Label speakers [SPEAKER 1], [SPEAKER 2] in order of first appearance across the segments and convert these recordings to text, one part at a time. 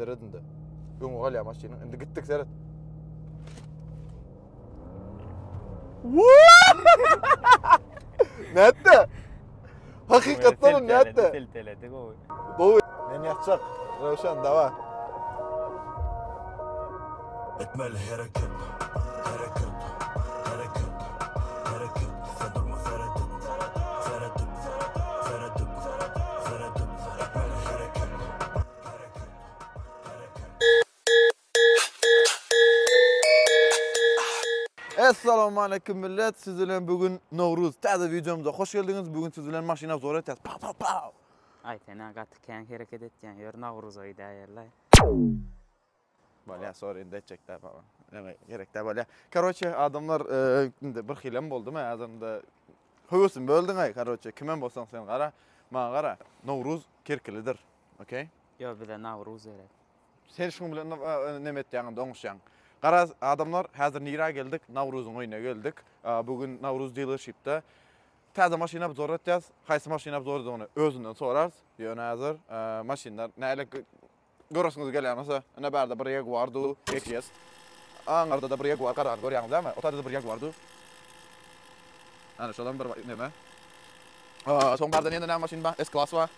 [SPEAKER 1] Seret indi. Öňe galýar maşynyň. Indi gitdik seret. Nätdi? Hakykatdan hem nätdi? Silteledi gowy. Gowy. Men ýatjak. Röwşen, dawa. Etmeli hereket, hereket, hereket, hereket, sen durma seredip, seredip, seredip, seredip, etmeli hereket, hereket, hereket. Essalawmaleýkim millet, siz bilen bu gün Nowruz. Täze wideomyza hoş geldiňiz. Bu gün siz bilen maşyny obzor etýäs. Pa pa pa. Aý sen-ä gaty kän hereket etýäň, ýör Nowruza gidäýerlaý. Bolýa sorry indi etjek däl baba. Näme gerek däl bolýa. Karoçe adamlar indi bir hilem boldumy adamda höwesimi böldüň-aý karoçe kimem bolsaň sen gara maňa gara Nowruz kerkilidir. Okey? Ýok bize Nawruz gerek. Sen şuň bilen näme etýäň indi oňuşýaň. Garaz adamlar häzir nirä geldik Nawruzyň öýüne geldik. Bu gün Nawruz dealershipde täze maşyny obzor etýäs. Haýsy maşyny obzordygyny özünden sorarys. Ýöne häzir maşynlar näle Göresiňiz gelýän bolsa, ine bärde bir Jaguar du XJS. Aňyrda-da bir Jaguar garany görýäňiz dämi? O taýda-da bir Jaguar du. Hany şolam bir neme. Soň bärde ýene näme maşyn bar? S-Class bar.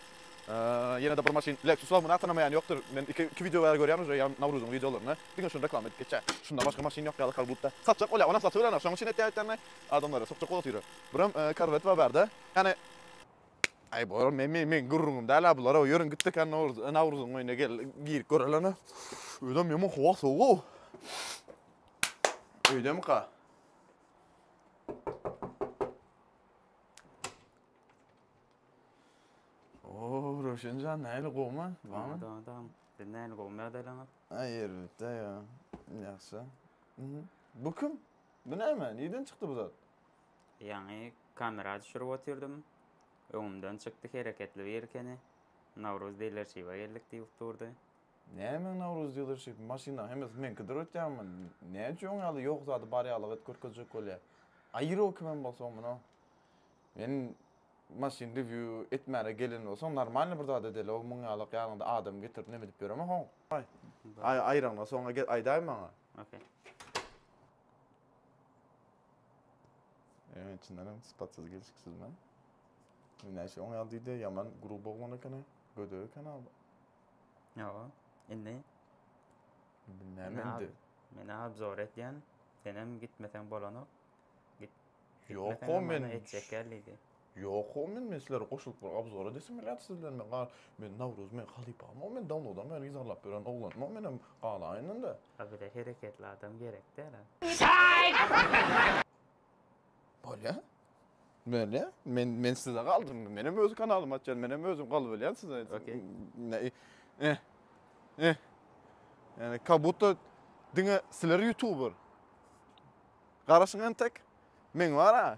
[SPEAKER 1] Ýene-de bir maşyn Lexus bar. Muny tanamaýan ýokdur. Men iki iki wideo bäri görýän uje ýa Nawruzyň wideolarynda. Diňe şuny reklama edip geçýär. Şundan başga maşyn ýok ýaly kal budda. Satjak bolýar, onam satyberenok. Şoň üçin aýtýar-aýtýarynda adamlara sokjak bolup otyr. Birem Corvette bar bärde. Ýani Aý bor men men men gürrüňim däl a bular ýörüň gitdik a Nowruz Nowruzyň öýüne gel girip görelena. Öýdem ýaman howa sowuga. Öýdemika. Oo Röşenjan näle gowma? Bana. Adam adam. Ben näle gowma ýagdaýlaňyz? Aý erbetde ýa. Ýagşy. Bu kim? Bu näme? Nirden çykdy bu zat? Ýaňy kamera düşürip otyrdym. Öňümden çykdy hereketli bir ekeni. Nowruz dilershipe geldik diýip durdy. Näme Nowruz dilershipi? Maşynyň hemmesi meňkidir öýtýäňmi? Näme üçin oň ýaly ýok zady bar ýaly gyt görkezjek bolýa? Aýro kimem bolsaň muny Men maşyn review etmäne gelen bolsaň normalny bir zat edeli-ow muň ýalak ýanyňda adam getirip neme edip ýöremek oň. Aý aýraňdan soň aýdaý maňa. Ok. Ýöne içinden hem sypatsyz gelşiksiz men. Näçe oňa ýal diýdi, ýaman gruba oglan ekeni, göde ekeni abi. Ýa, indi. Indi näme indi? Men abzor edýän, sen hem gitmeseň bolanok. Git. Ýok, men etjek geldi. Ýoka men men sizlere goşulyp bir obzor edesim gelýärdi sizden men gal men Nawruz meň halypamok men dawnodan bäri yzarlap ýören oglanymok menem galaýyn indi. A bize hereketli adam gerek däl a. Şaýt! Bolýa. Bolýa. Men men size galdym indi. Menem öz kanalymy açýan, menem özüm galbalýan size. Okey. Näi. Eh. Eh. Yani kabutta diňe sizler youtuber. Garaşyň entek. Men bar a.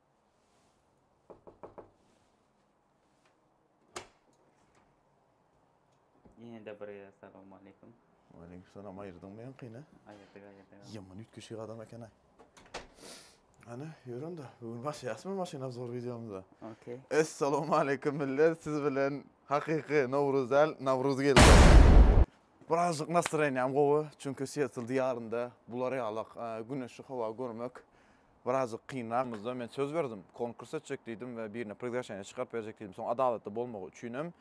[SPEAKER 1] Ýene de bir gezek salam aleykum. Waleýkim salam, aýyrdyňmy ýaňkyny? Aýyrdyk, aýyrdyk. Ýaman üýtgeşik adam eken-ä. Hany, ýör onda, bu gün başlaýasmy maşyn obzor wideomyza? Okey. Essalawmaleýkim millet, siz bilen hakyky Nowruz däl, Nawruz geldi. Birazjyk nastroýeniýam gowy, çünki Seattle diýarynda bular ýalak güneşli howa görmek birazjyk kynra. Muzda men söz berdim, konkurs etjek diýdim we birine priglaşeniýe çykaryp berjek diýdim. Soň adalatly bolmagy üçinem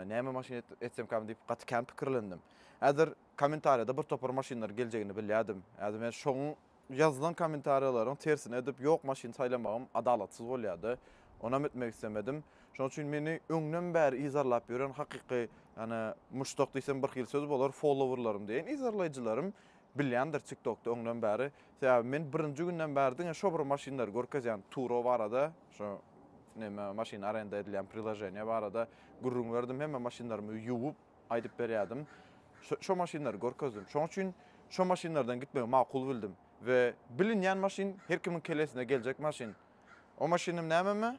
[SPEAKER 1] näme maşyn etsemkäm diýip gaty kän pikirlendim. Häzir kommentariýada bir topar maşynlar geljegini bilýärdim. Häzir men şoň ýazylan kommentariýalaryň tersine edip ýok maşyn saýlamagym adalatsyz bolýardy. Onam etmek islemedim. Şonuň üçin meni öňden bäri yzarlap ýören hakyky ýani muşdak diýsem birhili söz bolar, followerlarym diýeýin, yzarlaýjylarym bilýändir TikTokda öňden bäri Sebäbi men birinji günden bäri diňe şo bir maşynlary görkezýän Turo barada, şu neme maşyn arenda edilýän priloženiýe barada gürrüň berdim, hemme maşynlarymy ýuwup aýdyp berýärdim. Şo şo maşynlary görkezdim. Şoň üçin şo maşynlardan gitmegi makul bildim. We bilinýän maşyn, her kimiň kellesine geljek maşyn. O maşynym nämemi?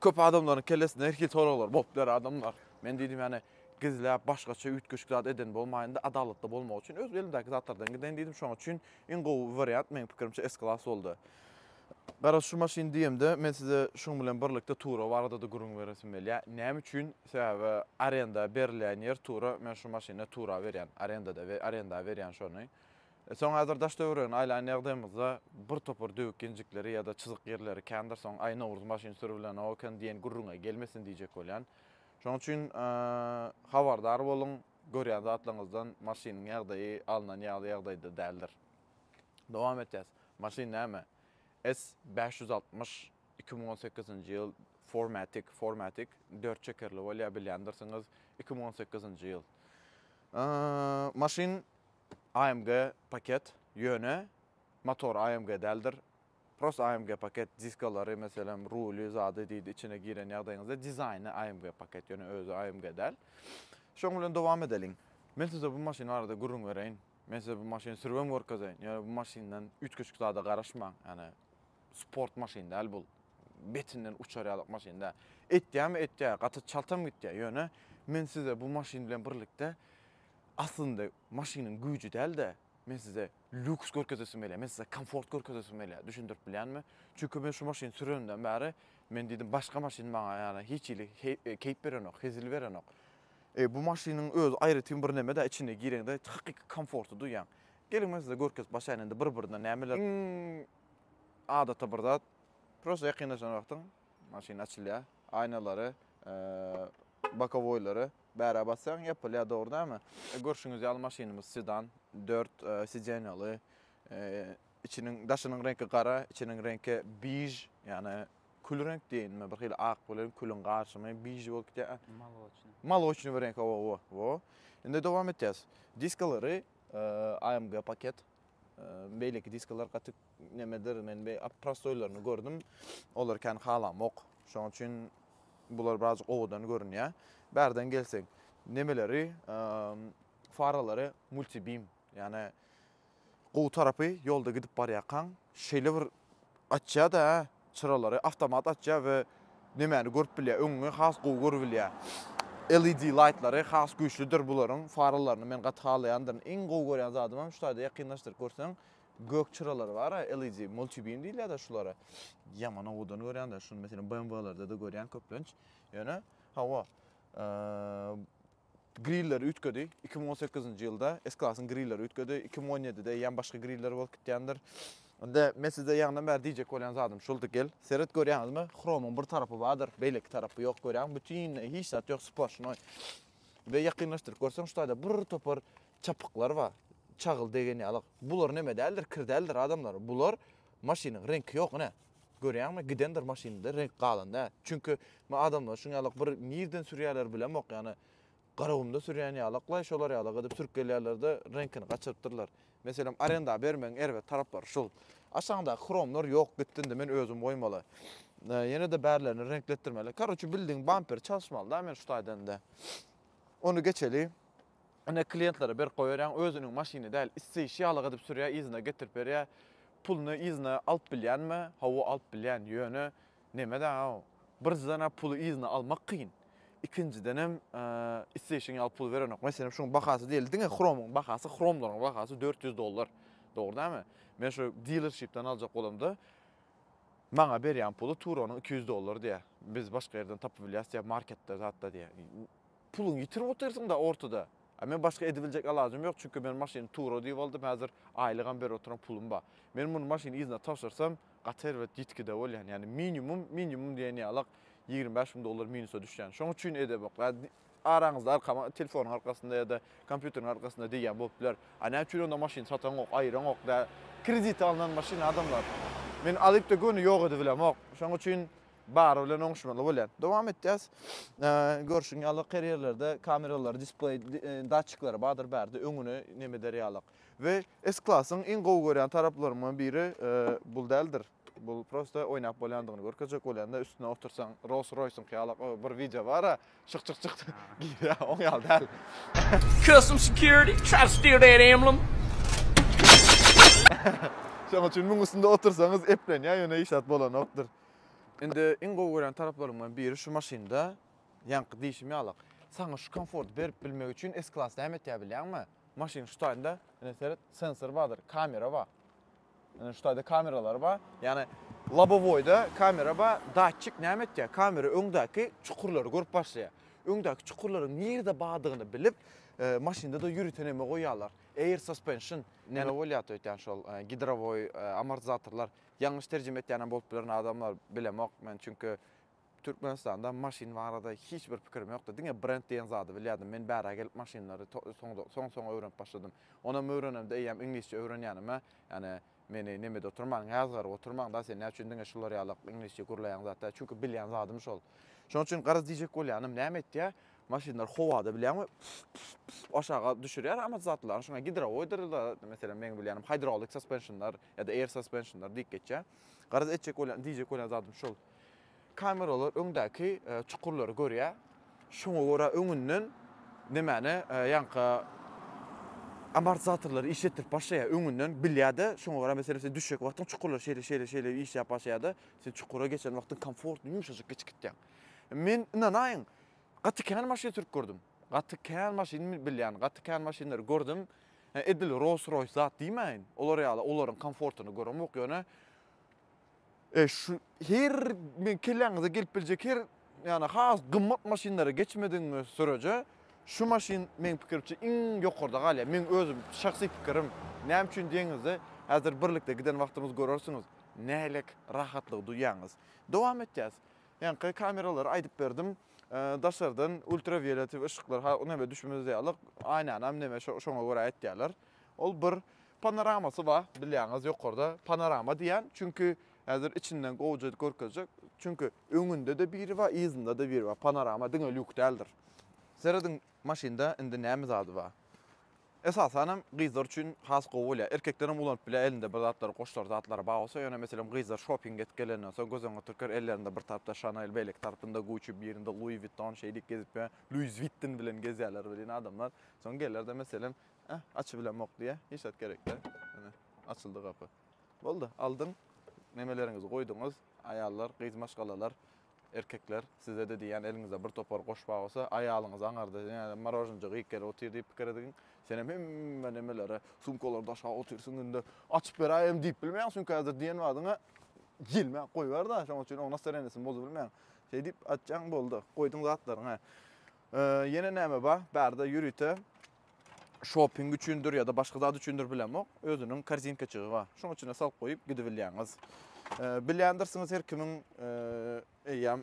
[SPEAKER 1] köp adamlaryň kellesinde her hil soraglar bolup biler adamlar. Men diýdim ýani gizläp başgaça üýtgeşik zat eden bolmaýynda adalatly bolmak üçin öz elimdäki zatlardan giden diýdim. Şonuň üçin Iň gowy wariant meň pikirimçe S Class boldy. Garaz şu maşyn diýemde men size şuň bilen birlikde Tura baradada gürrüň beresim gelýä. Näme üçin? Sebäbi arenda berilýän ýer Tura men şu maşyny Tura berýän arendada we arenda berýän şony. Soň häzir daş töweregini aýlan ýagdaýymyzda bir topar döwük ýenjikleri ýa-da çyzyk ýerleri kändir soň aý Nowruz maşyn sürübilenok eken diýen gürrüňe gelmesin diýjek bolýan. Şoň üçin habardar boluň. Görýän zatlaryňyzdan maşynyň ýagdaýy alnan ýaly ýagdaýda däldir. Dowam etýäs. Maşyn näme? S bäş ýüz altmyş, iki müň on sekizinji ýyl, four matic, four matic, dört çekerli bolýar, bilýändirsiňiz, iki müň on sekizinji ýyl. Maşyn AMG paket, ýöne motor AMG däldir. Prosta AMG paket diskalary meselem ruly zady diýdi içine giren ýagdaýyňyzda dizaýny AMG paket ýöne özi AMG däl. Şoň bilen dowam edeliň. Men size bu maşyn barada gürrüň bereýin. Men size bu maşyny sürübem görkezeýin. Ýöne bu maşyndan üýtgeşik zada garaşmaň. Ýani sport maşyn däl bul. Betinden uçar ýalyk maşyn däl. Etýämi etýä, gaty çaltam gitýä. Ýöne men size bu maşyn bilen birlikde aslynda maşynyň güýji däl-de, men size lýuks görkezesim gelýär, men size komfort görkezesim gelýär, düşündirip bilýänmi? Çünki men şu maşyny sürenimden bäri, men diýdim, başga maşyn maňa ýana hiç hili keýp berenok, hezil berenok. E, bu maşynyň özi aýratyn bir neme-dä, içine gireňde hakyky komforty duýýaň. Geliň, men size görkezip başlaýyn indi bir-birine nämeler. Iň adaty bir zat, prosta ýakynlaşan wagtyň maşyn açylýar, aýnalary, Bokowoýlary bärä basýaň, ýapylýar, dogry dälmi? Görşüňiz ýaly maşynymyz sedan, dört sidenýaly. Içiniň, daşynyň reňki gara, içiniň reňki biž, ýagny kül reňk diýeýinmi, bir hili ak bilen külüň garyşymy, biž bolup gidýär. Moloçnyý. Moloçnyý bir reňk, hawa, wo, wo. Indi dowam etýäs. Diskalary AMG paket. Beýleki diskalar gaty nemedir, men be prostoýlaryny gördüm. Olar kän halamok. Şonuň üçin bular birazjyk owadan görünýär. Bärden gelsek, nemeleri, faralary multibim, ýani gowy tarapy ýolda gidip barýarkaň, şeýle bir Açýa-da, hä? Çyralary awtomat açýar we nemäni görüp bilýär? Öňüňi has gowy görüp bilýär. LED laýtlary has güýçlüdir bularyň, faralaryny men gaty halaýandyryn. Iň gowy görýän zadym hem şu taýda ýakynlaşdyryp görseň, gök çyralary bar-a, LED, multibeam diýilýär-de şulara. Ýaman owadan görýän-de, şuny meselem BMW-lerde-de görýän köplenç. Ýöne, hawa, Grilleri üýtgedi. Iki müň on sekizinji ýylda S-Class-yň grilleri üýtgedi. Iki müň on ýedide eýýäm başga griller bolup gitýändir. Indi men size ýaňydan bäri diýjek bolýan zadym şuldy, gel, seret, görýäňizmi, Chrome-yň bir tarapy bardyr, beýleki tarapy ýok, görýäňmi, bütinleý hiç zat ýok, splaşnoý. We ýakynlaşdyryp görseň, şu taýda bir topar çapyklar bar, çagyl degen ýaly. Bular neme däldir, kir däldir, adamlar. Bular maşynyň reňki ýok, ine. Görýäňmi gidendir maşynda reňk galan dä çünki men adamlary şuň ýalak bir nirden sürýäler bilemok ýany garagumda sürýän ýalaklaý şolar ýalak edip sürüp gelýärlerde reňkini gaçyrypdyrlar meselem arenda bermegiň erbet taraplary şul aşaňdaky hromlar ýok gitdi indi men özüm goýmaly ýenede bärlerini reňkletdirmeli karoçe bildigiň bamperi çalyşmaly dä men şu taýdan indi ony geçeli Ine kliýentlere berip goýberýäň, özüniň maşyny däl, isleýşi ýalyk edip sürýär, yzyna getirip berýär. Puluny yzyna alyp bilýänmi? Hawa, alyp bilýän. Ýöne nemedaňaw, birinjiden-ä puly yzyna almak kyn, ikinjidenem isleýşiň ýaly pul berenok. Meselem, şuň bahasy diýeli, diňe hromyň bahasy, hromlaryň bahasy dört ýüz dollar. Dogry dälmi? Men şu dilerşipden aljak bolamda, maňa berýän puly Turonyň iki ýüz dollar diýýär. Biz başga ýerden tapyp bilýäs diýýär, marketde, zatda diýýär. Puluňy ýitirip otyrsyň-da ortada. A men başga edibiljek alajym ýok, çünki men maşyny tura düýp aldym, häzir aýlygam berip oturan pulum bar. Men muny maşyny yzyna tabşyrsam, gaty erbet ýitgide bolýan. Ýagny minimum, minimum diýen ýaly-ak ýigrimi bäş müň dollar minusa düşýän. Şoň üçin edebok. Araňyzda arkama telefonyň arkasynda ýa-da kompýuteriň arkasynda diýýän bolup biler. A näme üçin onda maşynysatanok, aýyraňok? Dä, kredite alnan maşyn adamlar. Men alyp-da göni ýok edibilemok. Şoň üçin Bary bilen oňuşmaly bolýar. Dowam etýäs. Görşüň ýaly karýerlerde kameralary, displeý datçikleri bardyr bärde öňüne neme eder ýalyk. We S-Class-yň iň gowy görýän taraplarymyň biri bul däldir. Bul prosta oýnap bolýandygyny görkezjek bolýanda üstüne otursaň Rolls-Royce-yňky ýalyk bir wideo bar-a, şyk şyk şyk girýär, oň ýaly däl. Custom security try to steal that emblem. Şoň üçin muň üstünde otursaňyz eplenýär ýöne işat bolanokdyr. Indi iň gowy görýän taraplarymdan biri şu maşynda, ýaňky diýşim ýalak, saňa şu komforty berip bilmek üçin S-Class näme etýär bilýäňmi? Maşynyň şu taýynda, ine seret, sensor bardyr, kamera bar. Ine şu taýda kameralar bar. Ýagny lobowoýda kamera bar, datçik näme etýär? Kamera öňdäki çukurlary görüp başlaýar. Öňdäki çukurlaryň nirede bardygyny bilip, e, maşynda-da ýörite näme goýýarlar? Air suspension näme bolýar öýtýän şol e, gidrowoý e, amortizatorlar. Ýalňyş terjime etýänem bolup bilerin adamlar bilemok men çünki Türkmenistanda maşyn barada hiç bir pikirim ýokdy diňe brend diýen zady bilýärdim men bärä gelip maşynlary soň soň öwrenip başladym onam öwrenemde eýýäm iňlisçe öwrenýänime ýani meni nemede oturmaň ýazgaryp oturmaňda sen näçün diňe şular ýalak iňlisçe gürleýäň zatda çünki bilýän zadym şol şonuň üçin garaz diýjek bolýanym näme etýä maşynlar howada bilýäňmi aşaga düşürýär amat zatlaryny şuňa gidrowoýdyr meselem meň bilýänim hydrolik saspensionlar ýa-da air suspensionlar diýip geçýär. Garaz etjek bolýan, diýjek bolýan zadym şol. Kameralar öňdäki çukurlary görýär. Şoňa görä öňünden nämäni ýaňky amortizatorlary işletdirip başlaýar. Öňünden bilýär-de, şoňa görä meselem sen düşjek wagtyň çukurlar şeýle şeýle şeýle işläp başlaýar-da, sen çukura geçen wagtyň komfortly ýumşajyk geçip gitýäň. Men ynanaýyň, gaty kän maşyn sürüp gördüm. Gaty kän maşyn bilýän, gaty kän maşynlary gördüm. Hä edil Rolls Royce zat diýmäýin, olar ýaly olaryň komfortyny göremok ýöne e şu her men kelläňize gelip biljek her ýagny has gymmat maşynlara geçmedigiňiz süreje şu maşyn meň pikirimçe iň ýokarda galýar. Meň özüm şahsy pikirim. Näme üçin diýenize häzir birlikde giden wagtymyz görersiňiz nälik rahatlygy duýýaňyz. Dowam etýäs. Ýaňky kameralary aýdyp berdim. Daşardan ultrawioletiw yşyklar ha neme düşmez diýýärler. Aýnanam neme şoňa görä etýärler. Ol bir panoramasy bar bilýäňiz ýokarda panorama diýýän. Çünki häzir içinden gowja görkezjek. Çünki öňünde-de biri bar, yzynda-da biri bar. Panorama diňe lýuk däldir. Serediň Maşynda indi näme zady bar? Esasanam gyzlar üçin has gowy bolýar. Erkeklerem ulanyp bilýär, elinde bir zatlar, goşlar, zatlary bar bolsa, ýöne meselem gyzlar şopinge gidip gelenden soň göz öňüňe türker, ellerinde bir tarapda Chanel, beýleki tarapynda Gucci, birinde Louis Vuitton şeýdip gezip ýör. Luiz Wittin bilen gezýärler welin adamlar. Soň geler-de meselem, Äh, açybilemok diýýär. Hiç zat gerek däl. Ine, açyldy gapy. Boldy, aldyň, nemeleriňizi goýduňyz. Aýallar, gyz maşgalalar, erkekler, size-de diýýän, eliňizde bir topar goş bar bolsa, aýalyňyz aňarda diňe morožnijik iýip gelip otyr diýip pikir edigiň. Senem hemme nemelere, sumkalara daşap otyrsyň günde. Açyp beräýem diýip bilmeýäň, çünki häzir diýen badyňa gelmän goýber-de, şonuň üçin oň nastarenýasyny bozubilmeýäň. Şeý diýip açýaň, boldy. Goýduň zatlaryňy. Ýene näme bar? Bärde ýörite şoping üçindir ýa-da başga zat üçindir bilemok, özüniň korzinkaçygy bar. Şonuň içine salyp goýup gidibilýäňiz. Bilýändirsiňiz her kimiň eýýäm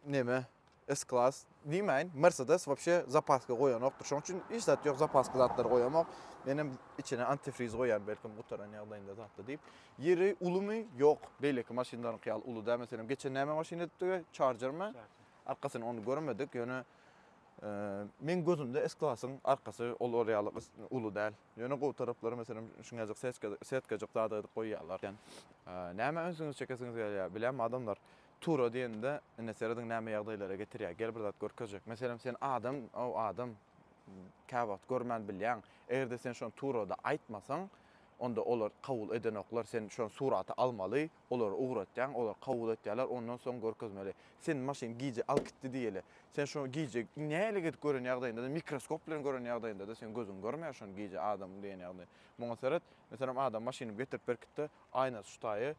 [SPEAKER 1] neme S-klass diýmäýin, Mercedes wapşe zapaska goýanokdyr. Şonuň üçin hiç zat ýok, zapaska zatlary goýamok. Men hem içine antifriz goýýan belkim gutaran ýagdaýynda zatda diýip. Ýeri ulumy? Ýok. Beýleki maşynlaryňky ýaly uly däl. Meselem, geçen näme maşyn edipdik? Charger-mi? Arkasyny ony görmedik. Ýöne Meň gözümde S-klasyň arkasy olar ýaly uly däl. Ýöne gowy taraplary meselem şuňajyk setkajyk zady edip goýýarlar eken. Nämä ünsüňizi çekesiňiz gelýär? Bilem adamlar tura diýende ine serediň näme ýagdaýlara getirýär. Gel bir zat görkezjek. Meselem sen adam ow adam käwagt görmän bilýäň. Egerde sen şony turada aýtmasaň onda olar kabul edenoklar sen şony surata almaly. Olary ugratýaň, olar kabul etýärler, ondan soň görkezmeli. Sen maşyn gije alyp gitdi diýeli. Sen şony gije nähili gezip gören ýagdaýynda-da, mikroskop bilen gören ýagdaýynda-da, seň gözüň görmeýär şony gije adamyň diýen ýagny. Muňa seret, meselem, adam maşynymy getirip berkitdi, aýnasy şu taýy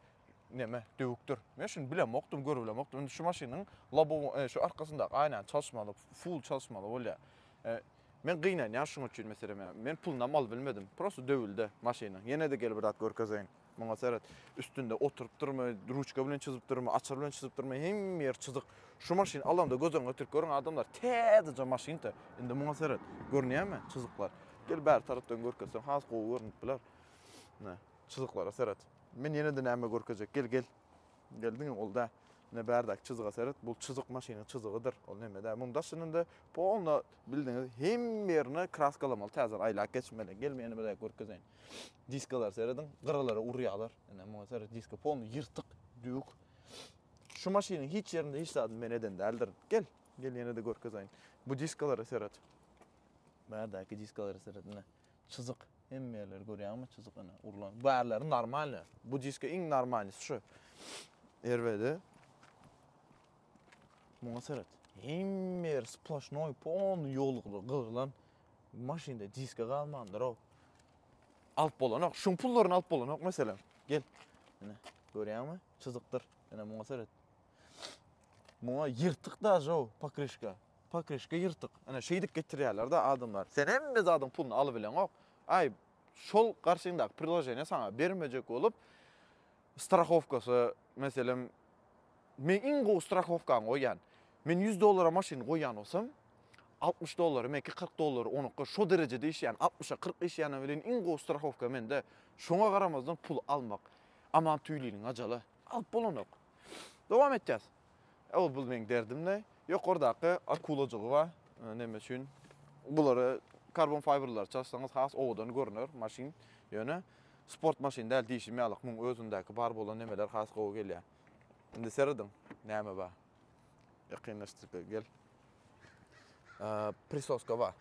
[SPEAKER 1] neme, döwükdir. Men şuny bilemokdym, görübilemokdym. Indi şu maşynyň lobowyny, e, şu arkasyndaky aýnany çalyşmaly, full çalyşmaly bolýar. E, Men gynanýan şuň üçin meselem, men pulunam alyp bilmedim. Prosta döwüldi maşynyň. Ýene-de gel bir zat görkezeýin. Muňa seret. Üstünde oturypdyrmy, ruçka bilen çyzypdyrmy, açar bilen çyzypdyrmy, hemme ýer çyzyk. Şu maşyny alamda göz öňüňe getirip görüň adamlar, täzeje maşynka. Indi muňa seret. Görünýärmi çyzyklar? Gel bäri tarapdan görkezseň has gowy görnüp biler. Ne, çyzyklara seret. Men ýene-de näme görkezjek? Gel, gel. Gel diňe ol da. Ne bärdäki çyzyga seret. Bu çyzyk maşynyň çyzygydyr. Ol näme dä. Muny daşynda polna bildiňiz hemme ýerini kraskalamaly, täzeden aýlap geçmeli. Gel men ýene bir görkezeýin. Diskalary serediň, gyralara urýarlar. Ine muňa seret, diska polny ýyrtyk, düwük. Şu maşynyň hiç ýerinde hiç zadyny men eden däldirin. Gel, gel ýene-de görkezeýin. Bu diskalara seret. Bärdäki diskalara seret, ine. Çyzyk. Hemme ýerleri görýäňmi? Çyzyk ine, urlan. Bärleri normalny. Bu diska iň normalnysy şu. Erwedi. Muňa seret. Hemme ýeri sploşnoý, polny ýolukly, gyrlan. Maşynda diska galmandyr-ow. Alyp bolanok. Şuň pullaryny alyp bolanok meselem. Gel. Ine, görýäňmi? Çyzykdyr. Ine muňa seret. Muňa ýyrtyk daže o pokrişka. Pokrişka ýyrtyk. Ine şeýdip getirýärler-de adamlar. Sen hemme zadyň puluny alyp bileňok. Aý, şol garşyňdaky priloženiýe saňa bermejek bolup, Strahowkasy, meselem, men iň gowy strahowkany goýýan. Men ýüz dollara maşyny goýýan bolsam, altmyş dollary menki, kyrk dollary onuňky şo derejede işleýän, altmyşa kyrk işleýäne welin iň gowy strahowka mende. Şoňa garamazdan puly almak, Aman Tüýliniň ajaly. Alyp bolanok. Dowam etýäs. Ol bul meň derdimle ýokardaky akulajygy bar. Näme üçin? Bulary karbon fiberlary çalsaňyz has owadan görüner maşyn. Ýöne sport maşyn däl diýşim ýalyk muň özündäki bar bolan nemeler has gowy gelýär. Indi serediň näme bar. Ýakynlaşdyr gel. Prisoska bar.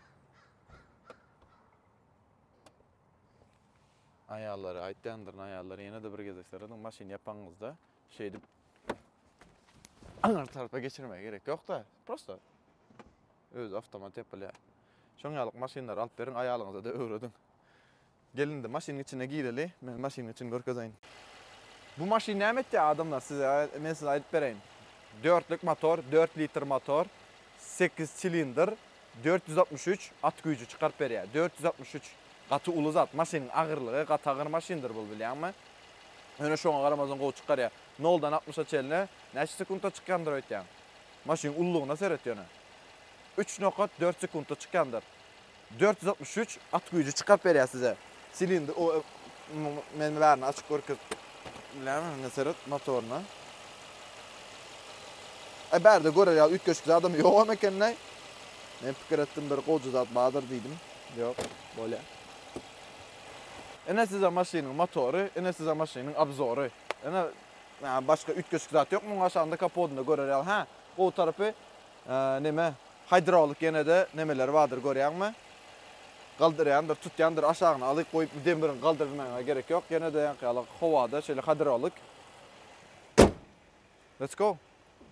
[SPEAKER 1] Aýallary aýtýandyr aýallary ýene-de bir gezek serediň maşyn ýapaňyzda şeýdip aňryk tarapa geçirmege gerek ýok-da, prosta özi awtomat ýapylýar. Şoň ýaly maşynlary alyp beriň, aýalyňyza-da öwrediň. Gel indi maşynyň içine gireli, men maşynyň içini görkezeýin. Bu maşyn näme etýär, adamlar, size, men size aýdyp bereýin. Dörtlük motor, dört litr motor, sekiz silindr, Dört ýüz altmyş üç at güýji çykaryp berýär. Dört ýüz altmyş üç gaty uly zat. Maşynyň agyrlygy, gaty agyr maşyndyr bul bilýäňmi? Ýöne şoňa garamazdan gowy çykarýar. Noldan altmyşa çenli näçe sekuntda çykýandyr öýtýäň? Maşynyň ululygyna seret ýöne. Üç nokat dört sekuntda çykýandyr. Dört ýüz altmyş üç at güýji çykaryp berýär size. Silindr o men bärini açyp görkezip bilýämi indi seret motoryna. E bärde görer ýaly üýtgeşik zadam ýogam ekendäý. Men pikir etdim bir goja zat bardyr diýdim. Ýok, bolýa. Ine size maşynyň motory, ine size maşynyň obzory. Ine başga üýtgeşik zat ýok muň aşagynda kapodynda görer ýaly. Hä, gowy tarapy Neme hidrolik ýenede nemeleri bardyr görýäňmi? Galdyrýandyr, tutýandyr, aşagyna alyp goýup bu demirin galdyrmagyňa gerek ýok. Ýenede ýaňky ýaly howada şeýle hidrolik. Let's go.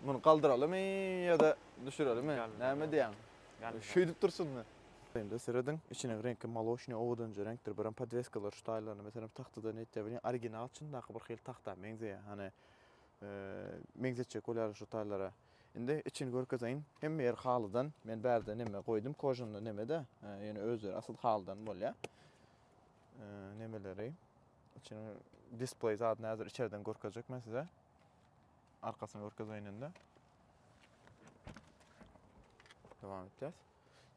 [SPEAKER 1] Muny galdyralymy ýa-da düşürelimi? Näme diýýäň? Şeýdip dursunmy? Indi serediň, içiniň reňki molosnyý owadanja reňkdir. Birem podweskalar şu taýlaryna meselem tahtadan ýetýär. Welin original çyndaky bir hili tahta meňzeýär. Hany meňzetjek bolýaryn şu taýlara. Indi içini görkezeýin. Hemme ýeri halydan. Men bärde neme goýdum, kožanly neme-de. Ýöne özleri asyl halydan bolýar. Nemeleri. Içini display zadyny häzir içerden görkezjek men size. Arkasyny görkezeýin indi. Dowam etýäs.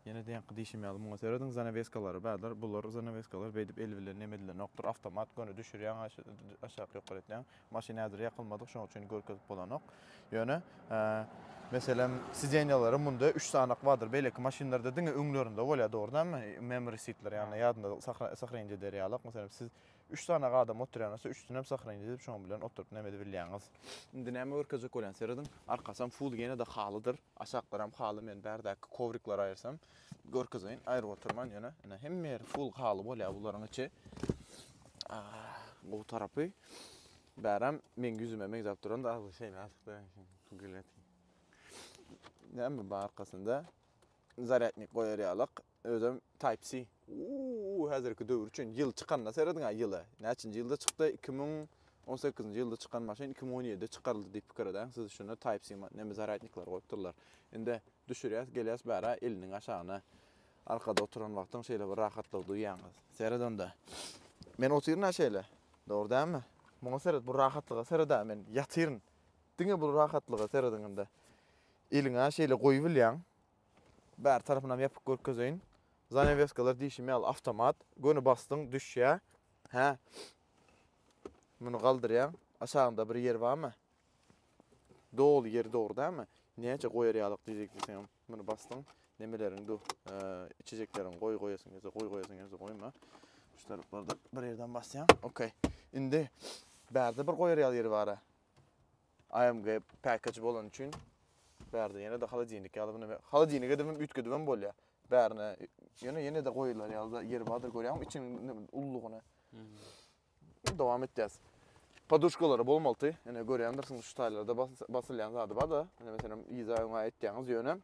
[SPEAKER 1] Ýene deňki diýşim ýaly muňa serediň zanaweskalary bardyr. Bular zanaweskalar beýdip el bilen neme edilenokdyr. Awtomat göni düşürýäň aşak ýokary etýäň. Maşyn häzir ýakylmadyk şoň üçin görkezip bolanok. Ýöne meselem sidenýalary munda üç sanak bardyr. Beýleki maşynlarda diňe öňlerinde bolýar dogry dälmi? Memory seatler ýagny ýadynda sahrenje eder ýalak. Meselem siz Üç sany adam oturýanasa üçsinem sahraýyn edip şoň bilen oturyp näme edibilýäňiz. Indi näme görkezjek bolýan serediň. Arkasam full ýenede halydyr. Aşaklaram haly men bärdäki kowrikleri aýyrsam görkezeýin. Aýryp oturman ýöne ine hemme ýeri full haly bolýar bularyň içi. Gowy tarapy bärem meň ýüzüme meňzäp duranda agzy şeýle açykda gülýär. Näme bar arkasynda? Zarýadnik goýar ýalyk. Özem type C. Uuu häzirki döwür üçin ýyl çykanda serediňä ýyla. Näçinji ýylda çykdy? Iki müň on sekizinji ýylda çykan maşyn iki müň on ýedide çykaryldy diýip pikir edäň siz şunda type C neme zarýadnikleri goýup durlar. Indi düşürýäs gelýäs bärä eliniň aşagyna arkada oturan wagtyň şeýle bir rahatlygy duýýaňyz. Seret onda. Men otyryn-a şeýle. Dogry dälmi? Muňa seret bu rahatlyga seret-ä men ýatyryn. Diňe bu rahatlyga serediň indi. Eliňä şeýle goýubilýäň. Bäri tarapynam ýapyk görkezeýin. Zanaweskalary diýşim ýaly awtomat. Göni basdyň, düşýä. Hä. Muny galdyrýaň. Aşagynda bir ýer barmy? Doly ýer dogry dälmi? Näçe goýar ýalyk diýjek diýseňem muny basdyň. Nemeleriň du, içejekleriň goý goýasyň gelse goý goýasyň gelse goýma. Şu taraplarda bir ýerden basýaň. Okey. Indi bärde bir goýar ýaly ýeri bara. AMG package bolany üçin bärde ýene-de holodilnik ýaly bunu holodilnik edibem üýtgedibem bolýar. Bärine ýöne ýene-de goýular ýaly ýeri bardyr görýäňmi içiniň ululygyny. Dowam etýäs. Podushkalary bolmalydy. Ine görýändirsiňiz şu taýlarda basylýan zady bar-da. Ine meselem yza öňe aýtýaňyz ýöne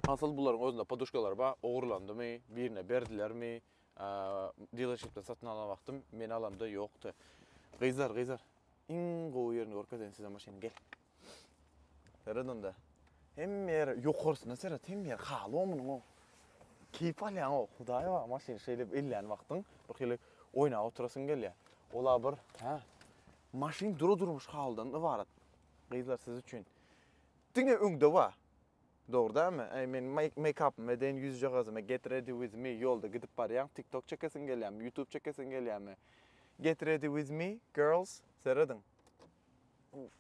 [SPEAKER 1] asyl bularyň özünde podushkalary bar. Ogurlandymy, birine berdilermi? Dilerşipden satyn alan wagtym men alamda ýokdy. Gyzlar, gyzlar. Iň gowy ýerini görkezeýin size maşynyň gel. Seret onda. Hemme ýer ýokarsyna seret, hemme ýer haly omunyň o. Keýp alýaň o, hudaýy bar maşyny şeýle ellän wagtyň bir hili oýnap oturasyň gelýär. Ola bir, hä? Maşyn dura durmuş halydan ybarat. Gyzlar siz üçin. Diňe öňde bar. Dogry dälmi? Eý men meýkapymy deýin ýüzjagazymy get ready with me ýolda gidip barýaň tiktok çekesiň gelýämi ýutub çekesiň gelýämi get ready with me girls serediň uuff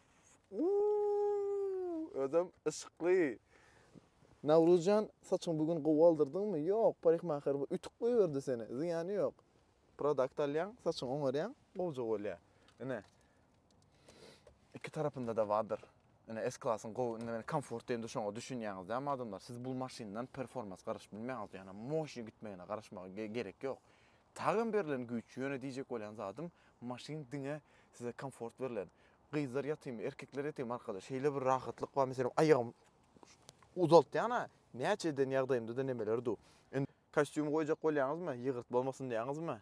[SPEAKER 1] uuuuu özem yşykly Nawruzjan saçyňy bu gün gowy aldyrdyňmy ýok parikmaher bu ütük goýberdi seni zyýany ýok produkt alýaň saçyňy oňarýaň gowja bolýa ine Iki tarapynda-da bardyr. Ine S-klasyň gowy, indi men komfort diýende şoňa düşünýäňiz dämi adamlar? Siz bul maşyndan performans garaşyp bilmeýäňiz, ýagny moşni gitmegine garaşmaga gerek ýok. Tagan berlen güýç, ýöne diýjek bolýan zadym, maşyn diňe size komfort berlen. Gyzlar ýatymy, erkekler ýatymy arkadaş, şeýle bir rahatlyk bar, meselem aýagymy uzaltýan-a, näçe eden ýagdaýymda-da nemeler du. Indi kostýum goýjak bolýaňyzmy, ýygyrt bolmasyn diýýäňizmi?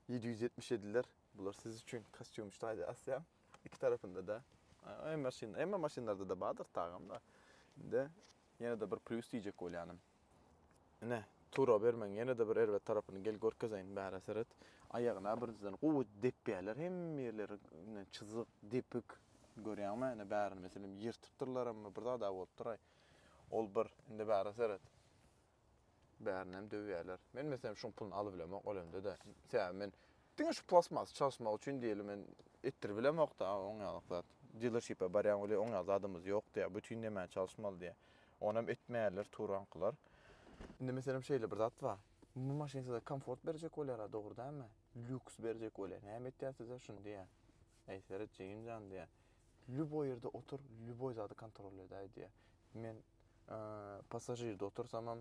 [SPEAKER 1] Ýedi ýüz ýetmiş ýediler. Bular siz üçin kostýum üçin aýda asýan. Iki tarapynda-da em maşyn, emma maşynlarda-da bardyr tagam-da. Indi ýene-de bir plýus diýjek bolýanym. Ine, tura bermegiň ýene-de bir erbet tarapyny gel görkezeýin, bära seret. Aýagyna birinjiden gowy depýärler, hemme ýerleri ine çyzyk, depik. Görýäňmi, ine bärini meselem ýyrtypdyrlar, emma bir zad-a bolupdyr-aý. Ol bir, indi bära seret. Bärinem döwýärler. Men meselem şuň puluny alybilemok ölemde-de. Sebäbi men diňe şu plastmas çalyşmak üçin diýeli men etdiribilemok-da oň ýalyk zat. Dilerşipe barýaň welin oň ýaly zadymyz ýok diýýär. Bütin nämäni çalyşmaly diýýär. Onam etmeýärler turankylar. Indi meselem şeýle bir zat bar. Bu maşyn size komfort berjek bolýar-a dogry dälmi? Lýuks berjek bolýar. Näme etýär size şuny diýýär. Äý seret jigim jan diýýär. Lýuboý ýerde otur, lýuboý zady kontrol edäý diýýär. Men Passažirde otursamam,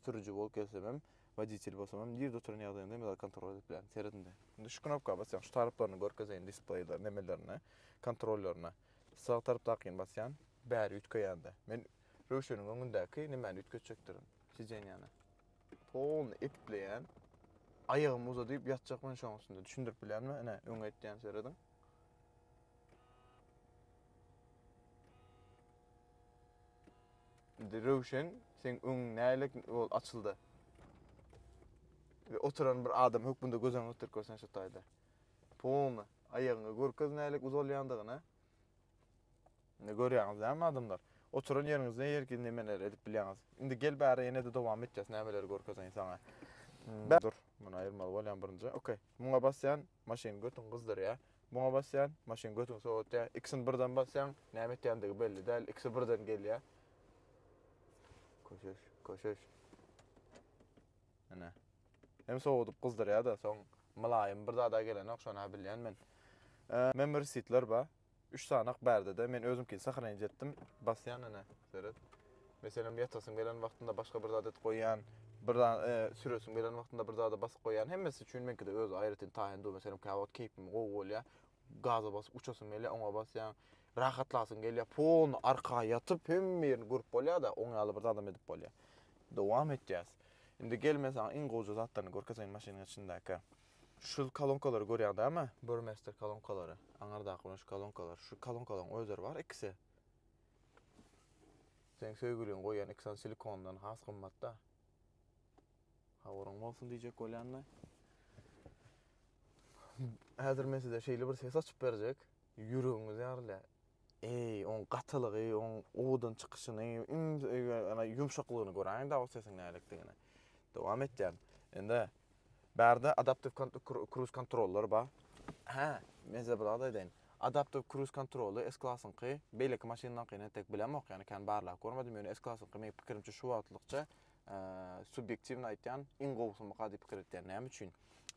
[SPEAKER 1] sürüji bolup gelsemem, woditel bolsamam, nirde oturan ýagdaýynda hem zat kontrol edip bilerin. Seret indi. Indi şu knopka basýan, şu taryplaryny görkezeýin displeýde, nemelerine, kontrollerine. Sag tarapdakyny basýan, bäri üýtgeýände. Men Röwşeniň öňündäki nemäni üýtgetjekdirin, sidenýany. Polny epikleýän. Aýagymy uzadyp ýatjak men şoň üstünde. Düşündirip bilenmi? Ine, öňe itýän, serediň. Indi Röwşen, sen öňüň nälik bol açyldy. Ve oturan bir adam hökmünde göz öňüne getirip görsen şu taýda. Polny aýagyňy görkez nälik uzalýandygyny. Indi görýäňiz näme adamlar? Oturan ýeriňizde her kim nemeler edip bilýäňiz. Indi gel bäri ýene-de dowam etjäs nämeleri görkezeýin saňa. Hmm. Dur, muny aýyrmaly bolýan birinji. Okey. Muňa basýan, Maşyn götüňi gyzdyrýar. Muňa basýan, maşyn götüňi sowatýar. Ikisini birden basýaň, näme etýändigi belli däl. Ikisi birden gelýär. Köşeş, köşeş. Ine. Hem sowadyp gyzdyrýar-da, soň mylaýym bir zada gelenok, şony-ha bilýän men. Member seat-ler bar. Üç sanak bärde-de, men özümkini sahalaýynça etdim. Basýan ene, seret. Meselem, ýatasyň gelen wagtynda başga bir zat edip goýýan, bir zat, e, süresiň gelen wagtynda bir zada basyp goýýan. Hemmesi üçin meňkide öz aýratyn taýyny dur. Meselem, käwagt keýpim gowy bolýar, gaza basyp uçasym gelýär, oňa basýaň. Rahatlasyň gelýär, polny arka ýatyp, hemme ýerini görüp bolýar-da, oň ýaly bir zadam edip bolýar. Dowam etýäs. Indi gel, men saňa iň gowja zatlaryny görkezeýin maşynyň içindäki. Şu kolonkalary görýäň dämi? Burmester kolonkalary, aňyrdaky munş kolonkalar. Şu kolonkalaryň özleri bar ikisi. Seň söýgüliň goýýan iki sany silikondan has gymmatda. Habaryň bolsun diýjek bolýan-da. Häzir men size şeýle bir ses açyp berjek, ýüregiňiz ýarylýar. Eý, oň gatylygy, oň owadan çykyşyny, ýumşaklygyny göräýiň-de o sesiň näledigini. Dowam etýän. Indi Bärde adaptiw kruz kontroller bar. Hä, men size bir zat aýdaýyn. Adaptiw kruz kontroly S-klasyňky beýleki maşynlaňkyny entek bilemok, ýagny kän barlap görmedim, ýöne S-klasyňky meň pikirimçe şu wagtlykça subýektiwnyý aýtýan iň gowusymyka diýip pikir etýän. Näme üçin?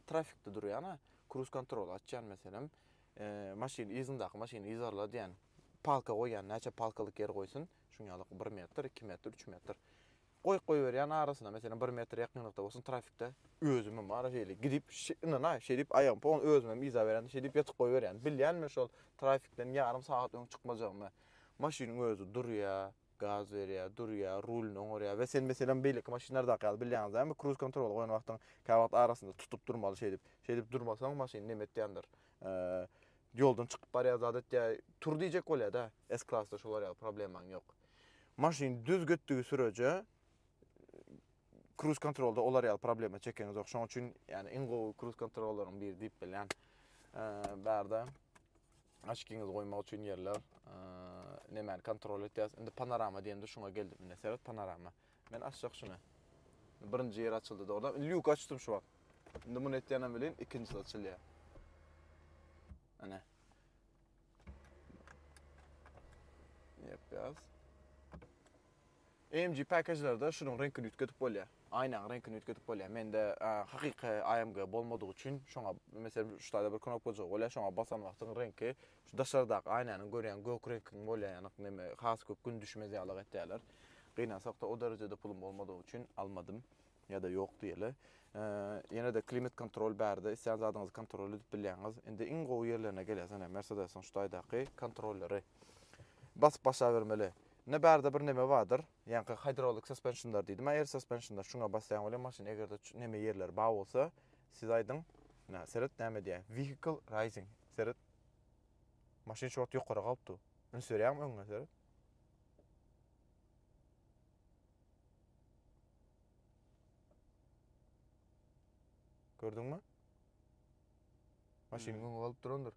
[SPEAKER 1] Trafikde durýana kruz kontroly açýan meselem, maşyn yzyndaky maşyny yzarla diýen palka goýýan, näçe palkalyk ýer goýsun, şuň ýaly bir metr, iki metr, üç metr. Goýup goýberýän arasynda meselem bir metr ýakynlykda bolsun trafikde özümem wara şeýle gidip ynanaý şeýdip aýagym pon özümem yza berende şeýdip ýatyp goýberýän bilýän men şol trafikden ýarym sagat öň çykmajagymy maşynyň özi durýa gaz berýä durýa rulny oňarýa we sen meselem beýleki maşynlardaky ýaly bilýäňiz dämi kruz kontroly goýan wagtyň käwagt arasynda tutup durmaly şeýdip şeýdip durmasaň maşyn nemetýändir Ýoldan çykyp barýar zat etýär. Tur diýjek bolýar-da. S-klasda şolar ýaly problemaň ýok. Maşyn düz gitdigi süreje kruz-kontrolda olar ýaly problema çekeňizok. Şoň üçin ýani iň gowy kruz-kontrollaryň biri diýip bilýän. Bärde açkiňizi goýmak üçin ýerler. Nämäni kontrol etýäs? Indi panorama diýende şuňa geldim. Indi seret panorama. Men açjak şuny. Birinji ýeri açyldy dogrudanam. Indi ýuka açdym şu wagt. Indi muny etýänem welin ikinjisi açylýar. Ana. Ýepýas. AMG package-lerde şunuň reňkini üýtgedip bolýar. Aýnaň reňkini üýtgedip bolýar. Mende hakyky AMG bolmadygy üçin şoňa meselem şu taýda bir knopkajygy bolýar, şoňa basan wagtyň reňki Şu daşardaky aýnanyň görýän gök reňkiň bolýan ýanyk neme has köp gün düşmez ýalyk etýäler. Gynansakda o derejede pulum bolmadygy üçin almadym ýada ýok diýeli. Ýenede klimat kontrol bärde islän zadyňyzy kontrol edip bilýäňiz. Indi iň gowy ýerlerine gelýäs ene Mersedesiň şu taýdaky kontrolleri. Basyp başa bermeli. Ne bärde bir neme bardyr. Ýanky hydraulic suspensionlar diýdim air suspensionlar şuňa basýaň welin maşyn egerde neme ýerleri bar bolsa siz aýdyň. Nä seret näme diýýä vehicle rising seret. Maşyn şu wagt ýokara galypdy. Üns berýäňmi öňüňe serip? Gördüňmi? Maşynyň öňi galyp durandyr.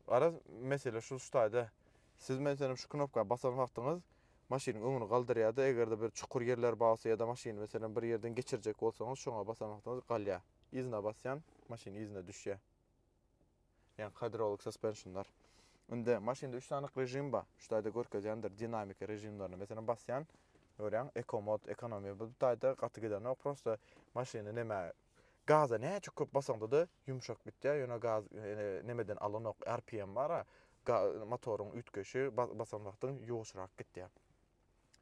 [SPEAKER 1] Araz mesele şu ştaýda. Siz men senem şu knopka basan wagtyňyz maşynyň öňüni galdyrýardy. Eger-de bir çukur ýerler barsa ýa-da maşyny meselem bir ýerden geçirjek bolsaňyz, şoňa basan wagtyňyz galýar. Yzyna basýan maşyn yzyna düşýä. Ýagny kadrolog saspensionlar. Indi maşynda üç sany režim ba. Şu taýda görkezýändir dinamika režimlerini. Meselem basýan görýäň eko mod ekonomiýa bu taýda gaty gidenok prosta maşyny neme gaza näçe köp basaňdada ýumşak gitýä ýöne gaz nemeden alanok rpm bara ga motoryň üýtgeşi basan wagtyň ýuwaşrak gitýä.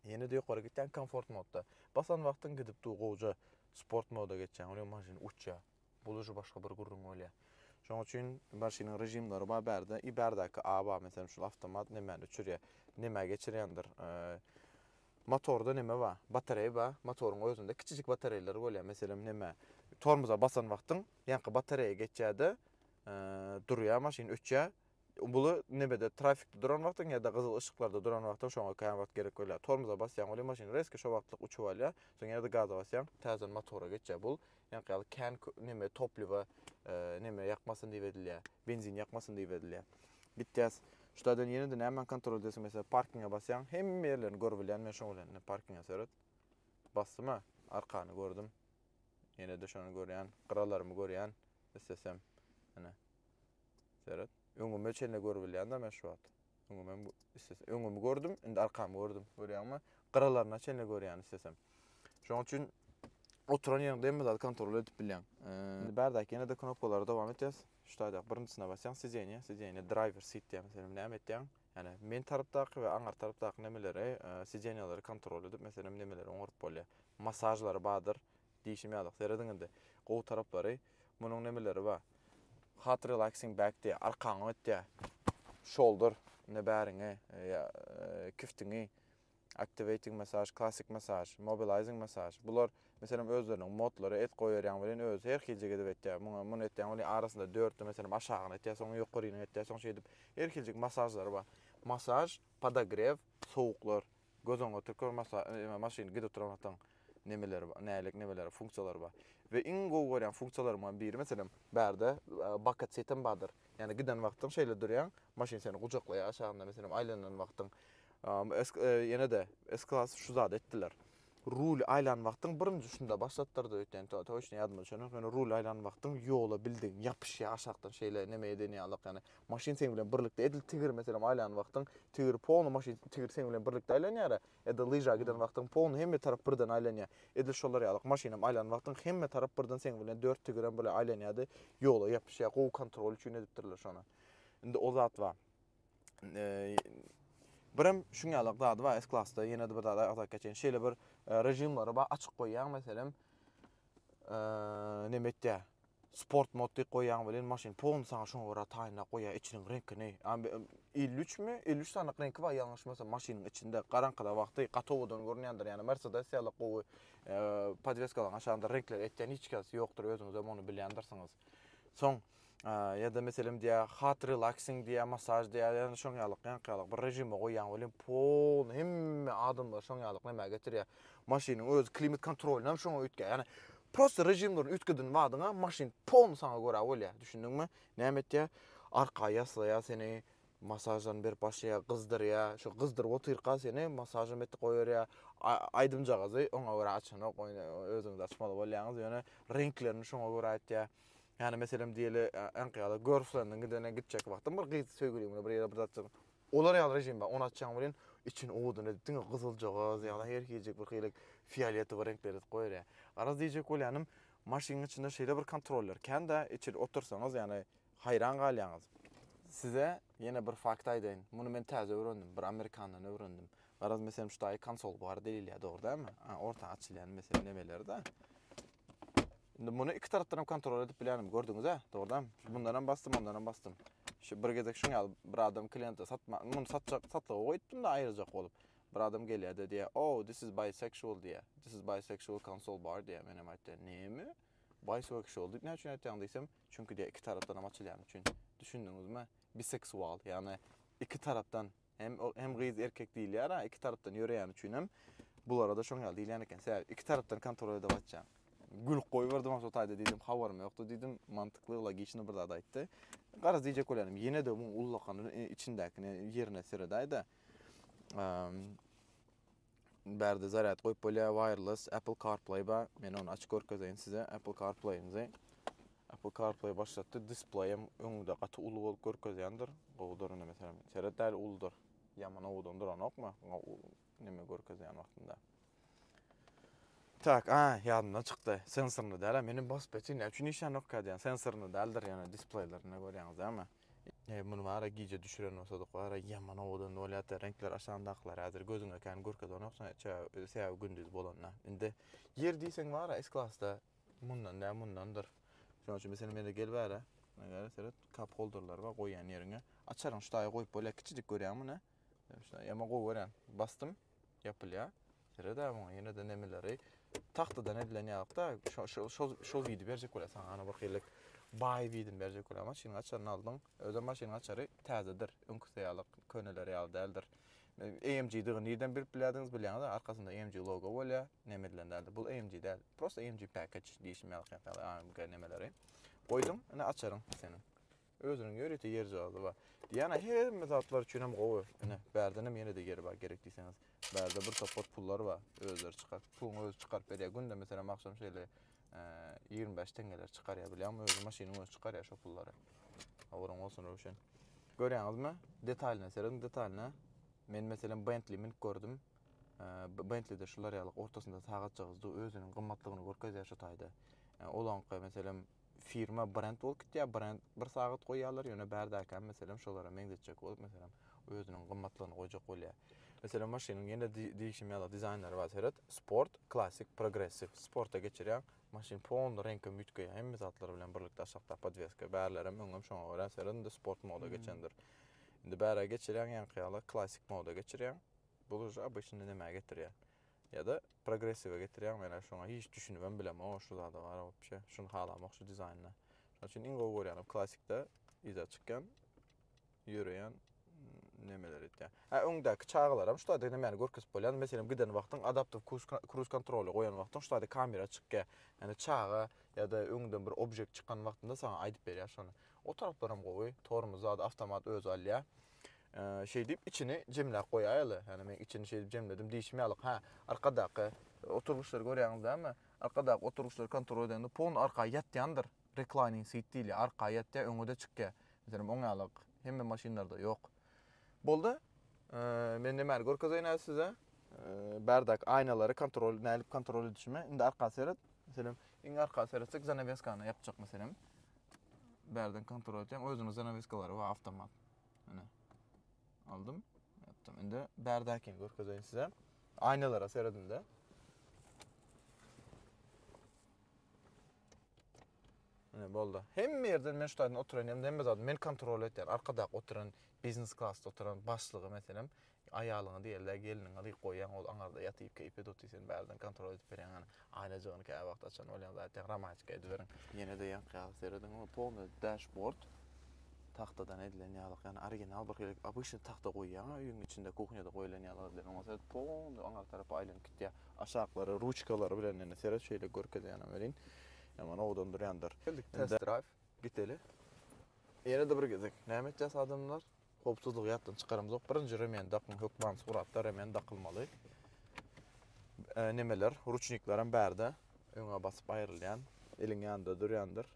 [SPEAKER 1] Ýene-de ýokary gitýäň komfort modda. Basan wagtyň gidip dur gowja sport moda geçýäň. Onuň maşyn uçýar. Bul uje başga bir gürrüň bolýar. Şoň üçin maşynyň režimleri bar bärde. I bärdäki A bar meselem şul awtomat nemäni uçurýar. Nemä geçirýändir. Motorda neme bar? Batareýa bar. Motoryň özünde kiçijik batareýleri bolýar. Meselem neme? Tormoza basan wagtyň ýaňky batareýa geçýärde durýar maşyn öçýär. Bula nebede trafikde duran wagtyň ýa-da gyzyl yşyklarda duran wagtyň şoňa kän wagt gerek bolýar. Tormoza basýaň welin maşyn rezki şo wagtlyk uçup alýar. Soň ýene-de gaza basýaň, täzeden motora geçýär. Bul ýaňky ýaly kän neme topliwa neme ýakmasyn diýip edilýär. Benzin ýakmasyn diýip edilýär. Gitýäs. Şulardan ýene-de nämäni kontrol edýärsiň? Meselem, parkinge basýaň. Hemme ýerlerini görüp bilýän men şoň bilen. Parkinge seret. Basdyma, arkany gördüm. Ýene-de şony görýän, gyralarymy görýän. Islesem, ine. Seret. Öňüme çenli görübilýän da men şu wagt. Öňümem istesem. Öňümi gördüm, indi arkamy gördüm. Görýäňmi? Gyralaryna çenli görýän istesem. Şoň üçin oturan ýeriňde hem zat kontrol edip bilýän. Indi bärdäki ýene-de knopkalary dowam etýäs. Şu taýdak birinjisine basýaň, sideniýe, sideniýe driver seat diýýän meselem näme etýäň? Ýani men tarapdaky we aňar tarapdaky nemeleri, sideniýalary kontrol edip meselem nemeleri oňaryp bolýar. Masažlary bardyr. Diýşim ýaly, serediň indi. Gowy taraplary, munuň nemeleri ba? Hat relaxing back diýýär, arkaňy ötýär. Shoulder, indi bäriňi, ýa kiftiňi, activating massage, classic massage, mobilizing massage. Bular, meselem, özleriniň modlary, et goýberýäň welin özi her hiljek edip etýär. Muňa, muny etýäň welin arasynda dörtde, meselem, aşagyny etýär, soň ýokaryny etýär, soň şeýdip her hiljek massajlary bar. Massaj, podogrew, sowuklar. Göz öňüňe oturyp gör masla eme maşyn gidip duran wagtyň nemeleri bar nälik nemeleri funksiýalary bar we iň gowy görýän funksiýalaryňdan biri meselem bärde baket setem bardyr ýagny giden wagtyň şeýle durýaň maşyn seni gujaklaýar aşagynda meselem aýlanan wagtyň ýene-de s klas şu zady etdiler rul aýlan wagtyň birinji şunda başlatdyrdy öýtýän to toçny ýadymda düşenok ýöne rul aýlan wagtyň ýola bildigiň ýapyşýar aşakdan şeýle neme eden ýalyk ýagny maşyn seň bilen birlikde edil tigir meselem aýlan wagtyň tigir polny maşyn tigir seň bilen birlikde aýlanýara edil lyža giden wagtyň polny hemme tarap birden aýlanýa edil şolar ýalyk maşynam aýlan wagtyň hemme tarap birden seň bilen dört tigirem bile aýlanýady ýola ýapyşýa gowy kontrol üçin edipdirler şony indi o zat bar birem şuň ýalyk zady bar s klasda ýene-de bir zat aýtsak geçen şeýle bir režimleri bar açyk goýýaň meselem neme etýär. Sport mod diýip goýýan welin maşyn pon saňa şoňa görä taýynlap goýýar içiniň reňkini. 53 mi? 53 sanyk reňki bar ýalňyşmasam maşynyň içinde garaňkyda wagty gatowadan görünýändir. Ýani Mercedes ýaly gowy podweskalaryň aşagynda reňkleri etýän hiç kesi ýokdur özüňizem ony bilýändirsiňiz. Soň Ýa-da meselem diýýär, hot relaxing diýýär, masaž diýýär, ýa-da şoň ýalyk, ýaňky ýalyk bir režime goýýaň welin polny hemme adamlar şoň ýalyk nämä getirýär. Maşynyň öz klimat kontrolyny hem şoňa üýtgär. Ýagny prosta režimlerini üýtgedin badyňa maşyn polny saňa görä bolýar. Düşündiňmi? Näme etýär? Arka ýaslaýar seni, masažlaryny berip başlaýar, gyzdyrýar. Şo gyzdyryp otyrka seni masažam etdi goýberýär. Aýdymjagazy oňa görä açanok, özüňiz açmaly bolýaňyz, ýöne reňklerini şoňa görä etýär. Ýani meselem diýeli äňki ýaly görfrendiň gidene gitjek wagtym bir gyz söýgüliň bilen bir ýere bir zatjyk. Olar ýaly režim bar. Ony açjaň welin içini owadan edip diňe gyzyljagaz ýa-da her hiljek bir hili fioletowy reňkler edip goýar ýa. Garaz diýjek bolýanym maşynyň içinde şeýle bir kontroller kän-dä içil otursaňyz ýani haýran galýaňyz. Size ýene bir fakt aýdaýyn. Muny men täze öwrendim. Bir amerikandan öwrendim. Garaz meselem şu taýy konsol bar diýilýä dogry dälmi? A orta açylýan meselem nemeler-dä. Indi muny iki tarapdan hem kontrol edip bilenim. Gördüňiz a? Dogrudan. Bundan hem bastım, ondan hem bastım. Şu bir gezek şun ýaly bir adam kliente satma, muny satjak, satlyga goýupdym da aýyrjak bolup. Bir adam gelýär de diýýär, "Oh, this is bisexual" diýýär. This is bisexual console bar diýýär. Men hem aýtdym, "Näme? Bisexual diýip näme üçin aýtýaň?" diýsem, "Çünki diýýär, iki tarapdan hem açylýan üçin." Düşündiňizmi? Biseksual, ýagny iki tarapdan Hem o hem gyz erkek diýilýär-ä iki tarapdan ýöreýäni üçinem bulara-da şoň ýaly diýilýän eken. Sä iki tarapdan kontrol edip atýaň. Gülüp goýberdim onso taýda diýdim habarym ýokdy diýdim. Mantykly logiçny bir zat aýtdy. Garaz diýjek bolýarym ýene-de muň ullakan içindäkini ýerine seredäýdä. Bärde zarýad goýup bolýar, wireless, Apple CarPlay bar. Men ony açyp görkezeýin size. Apple CarPlay-ymyzy Apple CarPlay başlatdy. Displeýem öňde gaty uly bolup görkezýändir. Gowudyr indi meselem. Seret däli uludyr. Ýaman owadan duranokmy? Neme görkezýän wagtynda. Tak, a, ýadymdan çykdy. Sensorny däl-ä. Meniň BOSFET-i näme üçin işlänokkä diýýän. Sensorny däldir ýöne displeýlerinde görýäňiz dälmi? Eý muny wara gije düşüren bolsadyk wara ýaman owadan bolýatda reňkler aşan daglar häzir gözüňe kän görkezenok sebäbi gündiz bolanda indi ýer diýseň wara S klasda mundan dä mundandyr şonuň üçin meselem ýene gel bära seret cup holderler bar goýýan ýeriňe açaryň şu taýa goýup bolýar kiçijik görýäňmi muny Şuna ýama gowy görýän. Bastym. Ýapylýa. Seredä muňa ýene-de nemeleri. Tahtadan edilen ýalykda şo şo şo şo widi berjek bolýar saňa. Ana bir helelik baý widini berjek bolýar. Maşynyň açaryny aldyň. Özem maşynyň açary täzedir. Öňküsi ýalyk, köneleri ýaly däldir. AMG-digi nirden bilip bilýärdiňiz bilýäňiz, arkasynda AMG logo bolýar. Neme edilen däldir. Bu AMG däl. Prosta AMG package diýişim ýalyk ýa-da AMG nemeleri. Goýduň, ine açaryň seniň. Özüniň ýörite ýer jazy bar. Diana hemme zatlar üçin hem gowy. Ine, bärden hem ýene-de ýeri bar gerek diýseňiz. Bärde bir topar pullar bar. Özleri çykaryp, puluny özi çykaryp berýär. Günde meselem agşam şeýle ýigrimi bäş teňňeler çykarýar. Bilýäňmi, özi maşynyň özi çykarýar şo pullary. Habaryň bolsun, Röwşen. Görýäňizmi? Detalyna serediň, detalyna. Men meselem Bentley münüp gördüm. Bentley-de şular ýaly ortasynda sagatjagaz dur, özüniň gymmatlygyny görkezýär şu taýda. Olaňky meselem firma brend bolup gitýär, brend bir sagat goýýarlar, ýöne bärdäki hem meselem şolara meňzetjek bolup, meselem, özüniň gymmatlygyny goýjak bolýar. Meselem, maşynyň ýene diýişim ýaly dizaýnlary bar, seret, sport, klassik, progressiw. Sporta geçirýäň, maşyn polny reňkem üýtgeýär, hemme zatlar bilen birlikde aşakdaky podweska, bärlerem öňem şoňa görä, seret, indi sport moda geçendir. Indi bärä geçirýäň, ýaňky ýaly klassik moda geçirýäň, bul uje obyçny nämä getirýär? Ýa-da progressiwe getirýäň, men-ä şoňa hiç düşünibem bilemok, o şu zada bar wobşe, şuny halamok şu dizaýnda. Şonuň üçin iň gowy görýänim klassikde yza çykýan, ýöreýän nemeleri etýän. Hä, öňdäki çagalaram şu taýda nämeni görkezip bolýar, meselem giden wagtyň adaptiw kruz kontroly goýan wagtyň şu taýda kamera çykýar. Ýani çaga ýa-da öňden bir objekt çykan wagtynda saňa aýdyp berýär şony. O taraplaram gowy, tormoz zady awtomat özi alýar. Şeýdip, içini jemläp goýaýaly. Ýagny men içini şeýdip jemledim diýşim ýalyk. Hä, arkadaky oturgyçlary görýäňiz dämi? Arkadaky oturgyçlary kontrol edende pony arka ýatýandyr. Reclining seat diýilýär. Arka ýatýar, öňe-de çykýar. Meselem, oň ýaly hemme maşynlarda ýok. Boldy. Men nämäni görkezeýin häzir size? Bärdaky aýnalary kontrol, nädip kontrol edişimi. Indi arka seret. Meselem, iň arka seretsek, zanaweskany ýapjak meselem. Bärden kontrol edýän özüniň zanaweskalary bar, awtomat. Ine. Aldım. Yaptım. Şimdi berdaki görkezeyim size. Aynalara seyredin de. Ine boldu. Hem yerden men şu oturan hem de hem zaten men kontrol etýän. Arkadak oturan biznes klasda oturan başlygy meselem. Aýalyňa diýerler gelniňe gyk goýýaň ol aňarda ýatyp keýpe doty sen bärden kontrol edip berýäň hany aýlajygyny käwagt açan bolýaň zaýatýaň romantika ediberiň. Ýenede ýaňkyýaga serediň ol polny dash bord tagtadan edilen ýalyk ýagny original bir hili obyçny tagta goýýaň a öýüň içinde kuhnýada goýulan ýalyk edilen oňa seret polny aňar tarapa aýlanyp gitýä aşaklary ruçkalary bilen indi seret şeýle görkezýänem welin ýaman owadan durýandyr. Geldik test drive giteli. Ýenede bir gezek näme etýäs adamlar. Howpsuzlygy ýatdan çykaramzok. Birinji remen dakyň, hökman suratda remen dakylmaly. E, nemeler, ruçnikler hem bärde öňe basyp aýrylýan, eliň ýanynda durýandyr.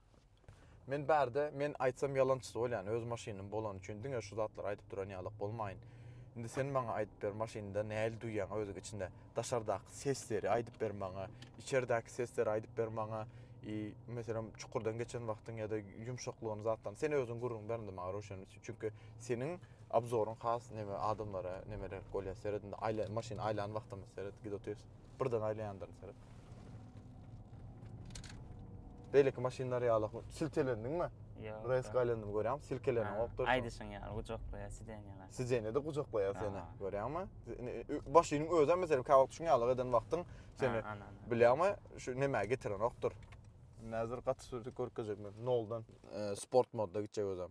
[SPEAKER 1] Men bärde, men aýtsam ýalançy bolýan, öz maşynym bolan üçin diňe şu zatlary aýdyp duran ýalak bolmaýyn. Indi sen maňa aýdyp ber, maşynda näli duýýan özüň içinde? Daşardaky sesleri aýdyp ber maňa, içerdäki sesleri aýdyp ber maňa. I, meselem, çukurdan geçen wagtyň ýa-da ýumşaklygyny zatdan sen özüň gürrüň ber indi maňa Röşen Çünki seniň abzoryň has neme adamlara nemeler bolýar seret indi aýla maşyn aýlan wagtymyz seret gido tez birden aýlaýandyr seret. Beýleki maşynlar ýaly siltelendiňmi? Ýok. Res gaýlandymy görýäň, silkelenýän okdur. Aýdyşyň ýaly gujaklaýar sidenýalar. Sidenýede gujaklaýar seni. Görýäňmi? Başynyň özem meselem kä wagt şuň ýaly eden wagtyň seni bilýäňmi? Şu nämä getiren okdur. Näzir gaty sürüp görkezjek men. Noldan sport modda gitjek özem.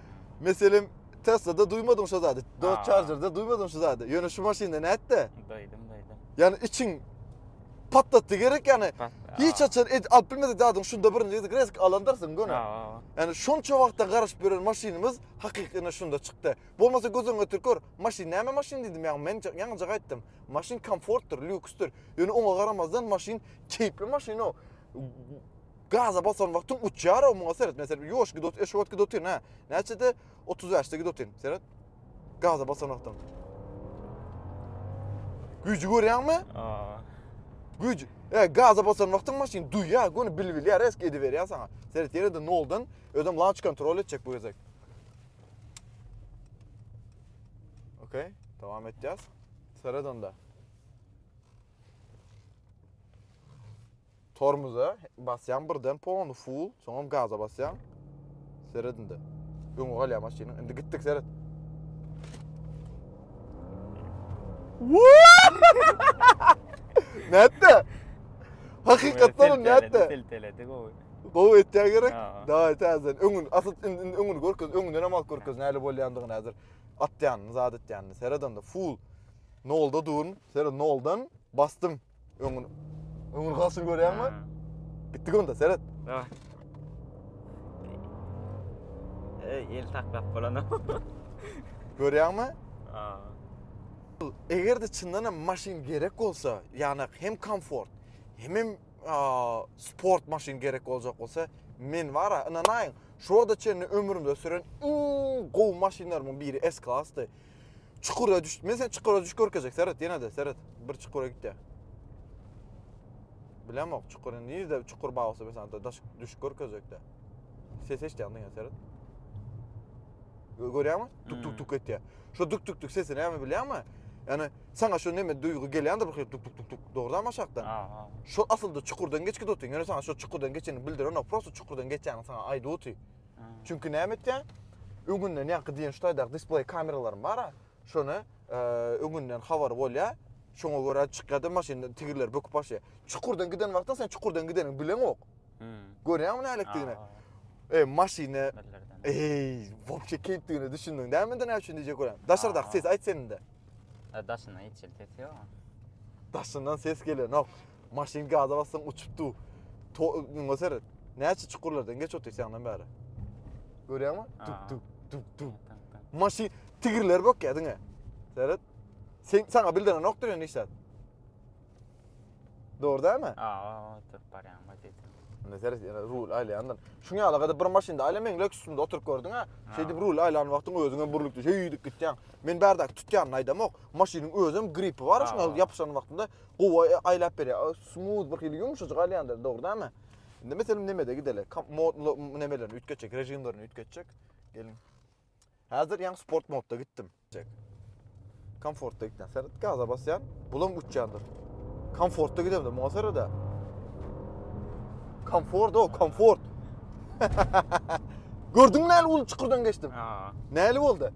[SPEAKER 1] Meselem, Tesla-da duýmadym şo zady. Dodge Charger-da duýmadym şu zady. Ýöne şu maşynda nätdi? Duýdum, duýdum. Ýani içiň patlatdy gerek ýani. Hiç haçan ed alyp bilmedik zadyň şunda birinji gezek resk alandarsyň göni. Ýani şonça wagtdan garaşyp ýören maşynymyz hakykyna şunda çykdy. Bolmasa göz öňüne getirip gör, maşyn näme maşyn diýdim ýa men ýaňyja gaýtdym. Maşyn komfortdyr, lýuksdyr. Ýöne oňa garamazdan maşyn keýpli maşyn o. Gaza basan wagtyň uçýar-ow, muňa seret, men seni ýuwaş gidot, eşwat gidotyn, hä? Näçede? Otuz bäşde gidotyn, seret. Gaza basan wagtyň. Güýji görýäňmi? Aa. Güýj, e, gaza basan wagtyň maşyn duýýar, göni bilbilýär, resk ediberýär saňa. Seret, ýene-de noldan, özem launch kontrol etjek bu gezek. Okey, dowam etýäs. Seret onda. Tormuza basýan birden polny full, soňam gaza basýan. Seret indi. Öňe galýar maşynyň. Indi gitdik seret. Nätdi? Hakykatdan nätdi? Silteledi gowy. Gowy etýä gerek. Daýy täzeden öňün asyl indi öňüni görkez, öňünden hem alyp görkez näle bolýandygyny häzir. Atýanyny, zat etýänini. Seret indi full. Nolda durun. Seret noldan bastym. Öňün öňün galşyny görýäňmi? Gitdik onda, seret. Dawa. Ey, el saklap bolana. Görýäňmi? Aa. Eger de çyndan hem maşyn gerek bolsa, ýagny hem komfort, hem hem sport maşyn gerek boljak bolsa, men bara, ynanaýyň, şu wagta çenli ömrümde süren iň gowy maşynlarymyň biri S-klasdy. Çukura düş. Men sen çukura düş görkezek. Seret ýene-de seret. Bir çukura gitdi. Bilemok çukur nirde çukur bar bolsa mesela da daş düş görkezekde. Ses eşitýän diňe seret. Görýärmi? Tuk tuk tuk etýär. Şu tuk tuk tuk sesini näme bilýärmi? Yani sana şu neme duygu gelýändir bir tuk tuk tuk tuk dogrudanmy aşakdan? Aha. Şu asylda çukurdan geçki dotyň. Ýöne sana şu çukurdan geçeni bildiren ok. Prosta çukurdan geçýäni sana aýdyp otyr. Çünki näme etýär? Öňünden ýaňky diýen şu taýdaky display kameralarym bar-a. Şony e, öňünden habar bolýar. Şoňa görä çykýar-da maşynda tigirler böküp başlaýar. Çukurdan giden wagtda sen çukurdan gideniňi bileňok. Hmm. Görýäňmi nälikdigini? E, maşyny Eý, wopşe keýpdigine düşündüň dämidi näme üçin diýjek bolan. Daşardaky ses aýt sende. E, daşyndan hiç ses ýok. Daşyndan ses gelenok. Maşyn gaza bassaň uçup du. To müňe seret. Näçe çukurlardan geç otyr senden bäri. Görýäňmi? Tuk Aa. tuk tuk tuk. Tak, tak. Maşyn tigirler bok ya diňe. Seret. Sen sana bildiren yoktur yani işler. Doğru değil mi? Aa, oturup barýan baş ýetim. Ne seret yani rul aylayandan. Şun yalı kadar bir maşynda ayla men lök üstünde oturup gördün ha. Şey dip rul aylan vaktin özüne burluktu. Şey yiydik gityan. Men berdaki tutyanını aydamok. Maşynyň özüm gripi var. Şun Aa. yapışan vaktinde Gowy aýlap berýär. Smooth bir hili ýumşajyk alýandyr, dogry dämi? Indi meselem nemede gideli? Modly nemeleri üýtgetjek, režimlerini üýtgetjek. Gelin. Häzir ýaňy sport modda gitdim. Komfortda gitdim. Seret gaza basýan, bulam uçýandyr. Komfortda gidemde muňa serede. Komfort o, komfort. Gördüň näli bolup çukurdan geçdim? Ha. Näli boldy?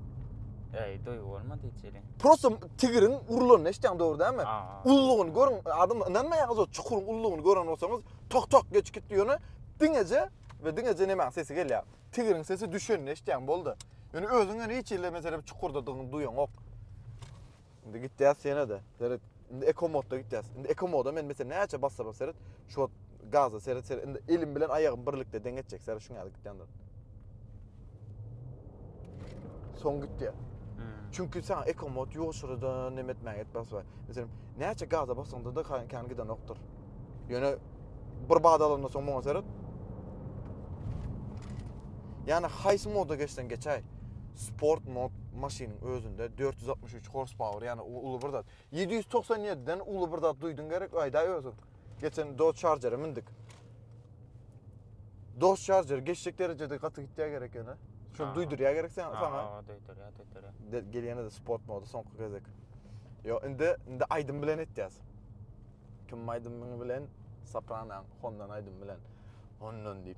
[SPEAKER 1] Eý, duýgy bolmady içeri. Prosta tigriň urulanyny eşitýäň dogry dälmi? Ullugyny görüň, adam ynanmaýarsyňyz o çukuryň ullugyny gören bolsaňyz, tok tok geç gitdi ýöne diňeje we diňeje nämäň sesi gelýär. Tigriň sesi düşenini eşitýäň boldy. Ýöne özüň ýöne hiç hili meselem çukurdadygyňy duýaňok. Indi gitýäs ýene-de. Seret, Indi ekomodda gitýäs. Indi ekomoda men mesela näçe basarym seret, şu gaza seret seret. Indi elim bilen aýagym birlikde deň etjek seret şuňa gitýändir. Soň gitýär. Hmm. Çünki sen ekomod ýoşurdan nem etmäge etmez we mesela näçe gaza basaňda da kan giden okdur. Ýöne bir bad alanda soň muňa seret. Ýani haýsy moda geçsen geçäý. Sport mod maşynyň özünde 463 Horsepower ýani u uly bir zat. Ýedi ýüz togsan ýediden uly bir zat duýduň gerek, aýdaý özüň. Geçen Dodge Charger-e mindik. Dodge Charger geçjek derejede gaty gitýär gerek ýöne. Şol Ha. duýdurýar gerek sen Ha, saňa. ha, Döýdürýär, döýdürýär. De, gelýände-de sport moda soňky gezek. Ýo, indi indi aýdym bilen etýäs. Kim aýdymyň bilen? Sopranoň Hondan aýdym bilen. Hondan diýip.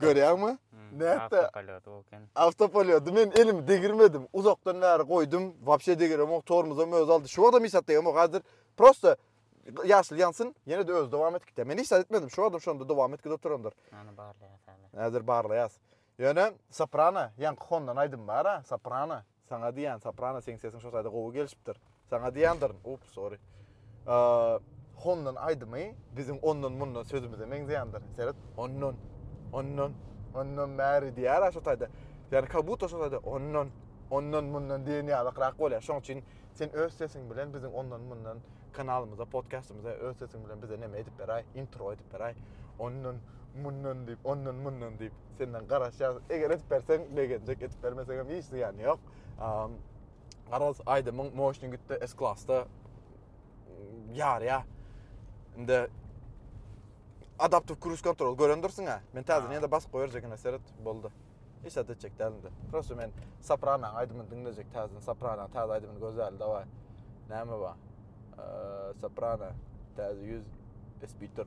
[SPEAKER 1] Görýäňmi? Nätdi? Awtopilot. Men elimi degirmedim. Uzakdan bäri goýdum. Wapşe degiremok. Tormozum öz aldy. Şu wagtam işat degiremok. Hazir prosta ýaşyl ýansyn, ýene de öz dowam etdik. Men işat etmedim. Şu wagtam şonda dowam etdi oturandyr. Ana barlaýas. Hazir barlaýas. Ýöne Soprano, ýaňky Honda-nyň aýdymy bar-a, Soprano. Saňa diýýän, soprano, seň sesiň şo taýda gowy gelişipdir. Saňa diýýändirin. Ups, sorry. Hondan aýdymy biziň ondan mundan sözümize meňzeýändir. Seret, ondan, ondan, ondan bäri diýýär şo taýda. Ýani kabutta şo taýda ondan, ondan mundan diýen ýalykrak bolýar. Şoň üçin sen öz sesiň bilen biziň ondan mundan kanalymyza, podkastymyza öz sesiň bilen bize näme edip beräý, intro edip beräý. Ondan, mundan diýip, ondan, mundan diýip. senden garaşýas. Eger edip berseň begenjek, edip bermeseň hem hiç zyýany ýok. Garaz aýdymyň moşny gitdi S klasda ýarýa. Indi adaptiv cruise control görendirsiň ha. Men täzeden ýa-da basyp goýarjekine seret boldy. Hiç zat etjek dälinde. Prosta men Soprano aýdymyny diňlejek täzeden. Soprano täze aýdymyny gözläli daway. Näme bar? Soprano täze 100 Espiter.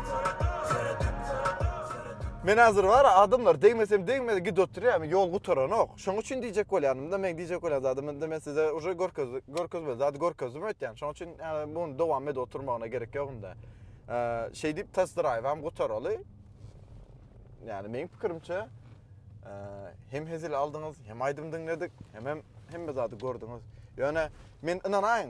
[SPEAKER 1] Men hazir bara adamlar degmesem degmedi gidip oturyam yol gutaranok. Şoň üçin diýjek bolýanymda men diýjek bolýan zadym indi men size uje görkezdi görkezmeli zady görkezdim öýtýän. Şoň üçin ýa muny dowam edip oturmagyna gerek ýok indi. Şeý diýip test drive hem gutaraly. Ýani meniň pikirimçe hem hezil aldyňyz, hem aýdym diňledik, hem hem hemme zady gördüňiz. Ýöne men ynanaýyň,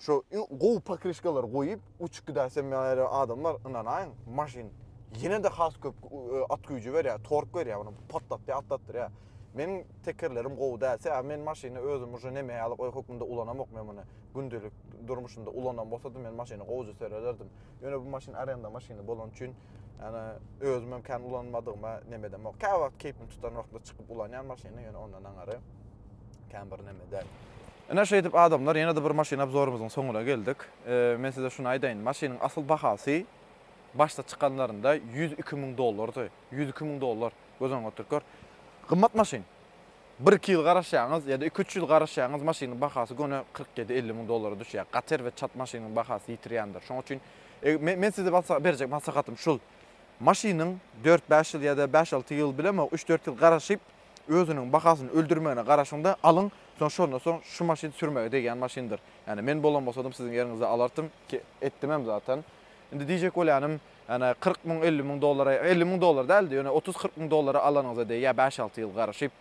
[SPEAKER 1] Şu iň gowy pokrişkalary goýup, uçup gidäýse meýle adam bar, ynanaýyň, maşyn ýene-de has köp e, at güýji berýär, tork berýär, muny patlatýar, atlatdyrýar. Meniň tekerlerim gowy däl, sebäbi men maşyny özüm uje neme ýaly goý hökmünde ulanamok men muny. Gündelik durmuşymda ulanan bolsadym, men maşyny gowuja serelerdim. Ýöne bu maşyn arenda maşyny bolany üçin, ýani özüm hem kän ulanmadygyma neme edemok. Käwagt keýpim tutan wagtynda çykyp ulanýan maşyny, ýöne ondan aňary kän bir neme däl. Ine, şeýdip, adamlar, ýene-de bir maşyn obzorymyzyň soňuna geldik. Men size şuny aýdaýyn, maşynyň asyl bahasy başda çykanlarynda ýüz iki müň dollardy. Ýüz iki müň dollar, göz öňüňe oturyp gör. Gymmat maşyn. Bir-iki ýyl garaşýaňyz ýa-da iki-üç ýyl garaşýaňyz, maşynyň bahasy göni kyrk ýedi, elli müň dollara düşýär. Gater we çat maşynyň bahasy ýitirýändir. Şoň üçin men size berjek maslahatym şul, maşynyň dört-bäş ýyl ýa-da bäş-alty ýyl bilemok, üç-dört ýyl garaşyp, özüniň bahasyny öldürmegine garaşyň-da, alyň, soň şondan soň şu maşyn sürmäge degýän maşyndyr. Ýani men bolan bolsadym siziň ýeriňizde alartym. Etdimem zaten. Indi diýjek bolýanym, ýani kyrk müň, elli müň dollara, elli müň dollar däldi, ýöne otuz-kyrk müň dollara alanyňyza degýär, bäş-alty ýyl garaşyp,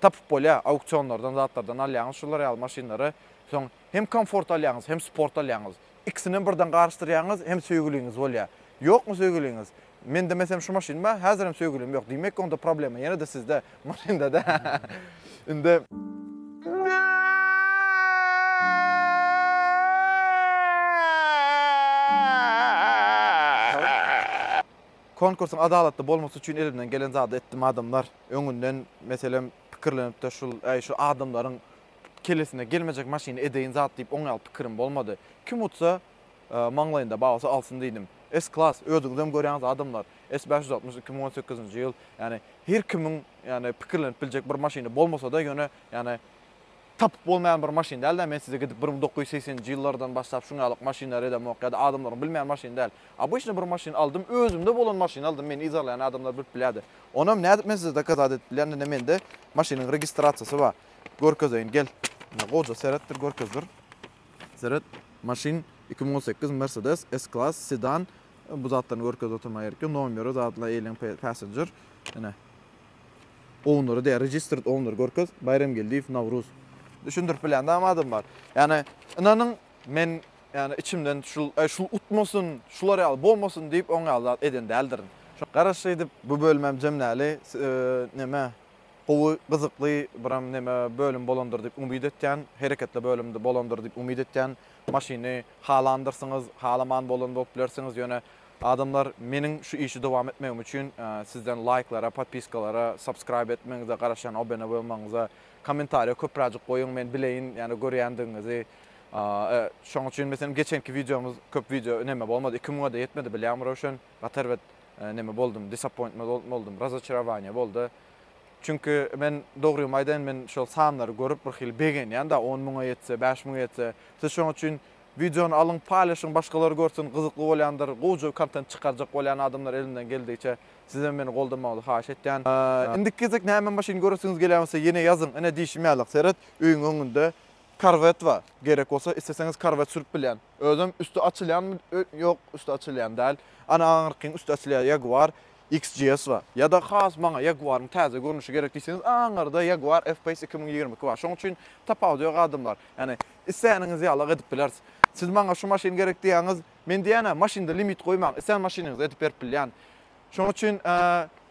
[SPEAKER 1] tapyp bolýar, auksionlardan, zatlardan alýaňyz şular ýaly maşynlary, soň hem komfort alýaňyz, hem sport alýaňyz. Ikisinem birden garyşdyrýaňyz, hem söýgüliňiz bolýar. Ýokmy söýgüliňiz? Mende mesem şu maşyn bar, häzirem söýgülim ýok. Diýmek onda problema ýene-de sizde, maşynda-da. Indi Konkursyň adalatly bolmasy üçin elimden gelen zady etdim adamlar. Öňünden meselem pikirlenip-de şul, äý şu adamlaryň kellesine gelmejek maşyny edeýin zat diýip oňýal pikirim bolmady. Kim utsa, Maňlaýynda babasy alsyn diýdim. S-Klass, özüňizem görýäňiz adamlar, S bäş ýüz altmyş iki müň on sekizinji ýyl, ýagny her kimiň ýagny pikirlenip biljek bir maşyny bolmasa-da, ýöne ýagny tapyp bolmaýan bir maşyn däl-dä, men size gidip bir müň dokuz ýüz segseninji ýyllardan başlap şuň ýalyk maşynlary elämok ýa-da adamlaryň bilmeýän maşyny däl. Obyçny bir maşyn aldym, özümde bolan maşyny aldym, meni yzarlaýan adamlar bilip bilýärdi. Onam nädip men size dokazat edip bilýän, ine mende maşynyň registrasiýasy bar. Görkezeýin, gel. Ine gowja seretdir, görkezdir. Seret, maşyn iki müň on sekiz Mercedes S-Class sedan. Bu zatlaryny görkezip oturmaga gerek ýok. Nomeri zadla eýleň passenger. Ine. Owneri diýýär, registered owner görkez. Baýramgeldiýew Nawruz. Düşündirip bilýän dagam adam bar. Ýani, ynanyň, men, ýani, içimden şul, äý, şul utmasyn, şular ýaly bolmasyn diýip, oň ýaly zat eden däldirin. Garaş, şeýdip, bu bölümem jemläli. Neme, Gowy, gyzykly biram neme bölüm bolandyr diýip umyt etýän, hereketli bölüm bolandyr diýip umyt etýän. Maşyny halandyrsyňyz, halaman bolan bolup bilersiňiz, ýöne adamlar meniň şu işi dowam etmegim üçin sizden laýklara, podpiskalara, subscribe etmegiňize garaşýan, obene bolmagyňyza, kommentariýa köpräjik goýuň, men bileýin ýani görýändigiňizi. Şoň üçin meselem geçenki wideomyz köp wideo neme bolmady, iki müňe-de ýetmedi bilýäňmi Röwşen? Gaty erbet neme boldum, disappointment bol boldum, razoçarovaniýa boldy. Çünki men, dogrymy aýdaýyn, men şol sanlary görüp, bir hili begenýän-dä, on müňe ýetse, bäş müňe ýetse. Siz şonuň üçin wideony alyň, paýlaşyň, başgalar görsün, gyzykly bolýandyr, gowja kontent çykarjak bolýan adamlar elinden geldigiçe sizem meni goldamagyňyzy haýyş etýän. Indiki gezek näme maşyn göresiňiz gelýän bolsa, ýene ýazyň, ine diýşim ýaly, seret, öýüň öňünde Corvette bar, gerek bolsa, isleseňiz Corvette sürüp bilýän. Özem üsti açylýanmy ýok üsti açylýan däl. Ana aňyrkyň üsti açylýar Jaguar XJS bar. Ýa-da has maňa Jaguaryň täze görnüşi gerek diýseňiz aňyrda Jaguar F-Pace iki müň ýigrimi iki bar. Şoň üçin tapawudy ýok adamlar. Ýagny isläniniz ýalyk edip bileris. Siz maňa şu maşyn gerek diýýäňiz, men diýýän-ä maşynda limit goýmaň, islän maşynyňyzy edip berip bilýän. Şoň üçin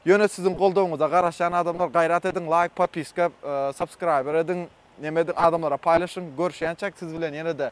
[SPEAKER 1] ýöne siziň goldawyňyza garaşýan adamlar gaýrat ediň laýk, popiska, subscriber ediň, neme ediň adamlara paýlaşyň. Görüşýänçäk siz bilen ýene-de.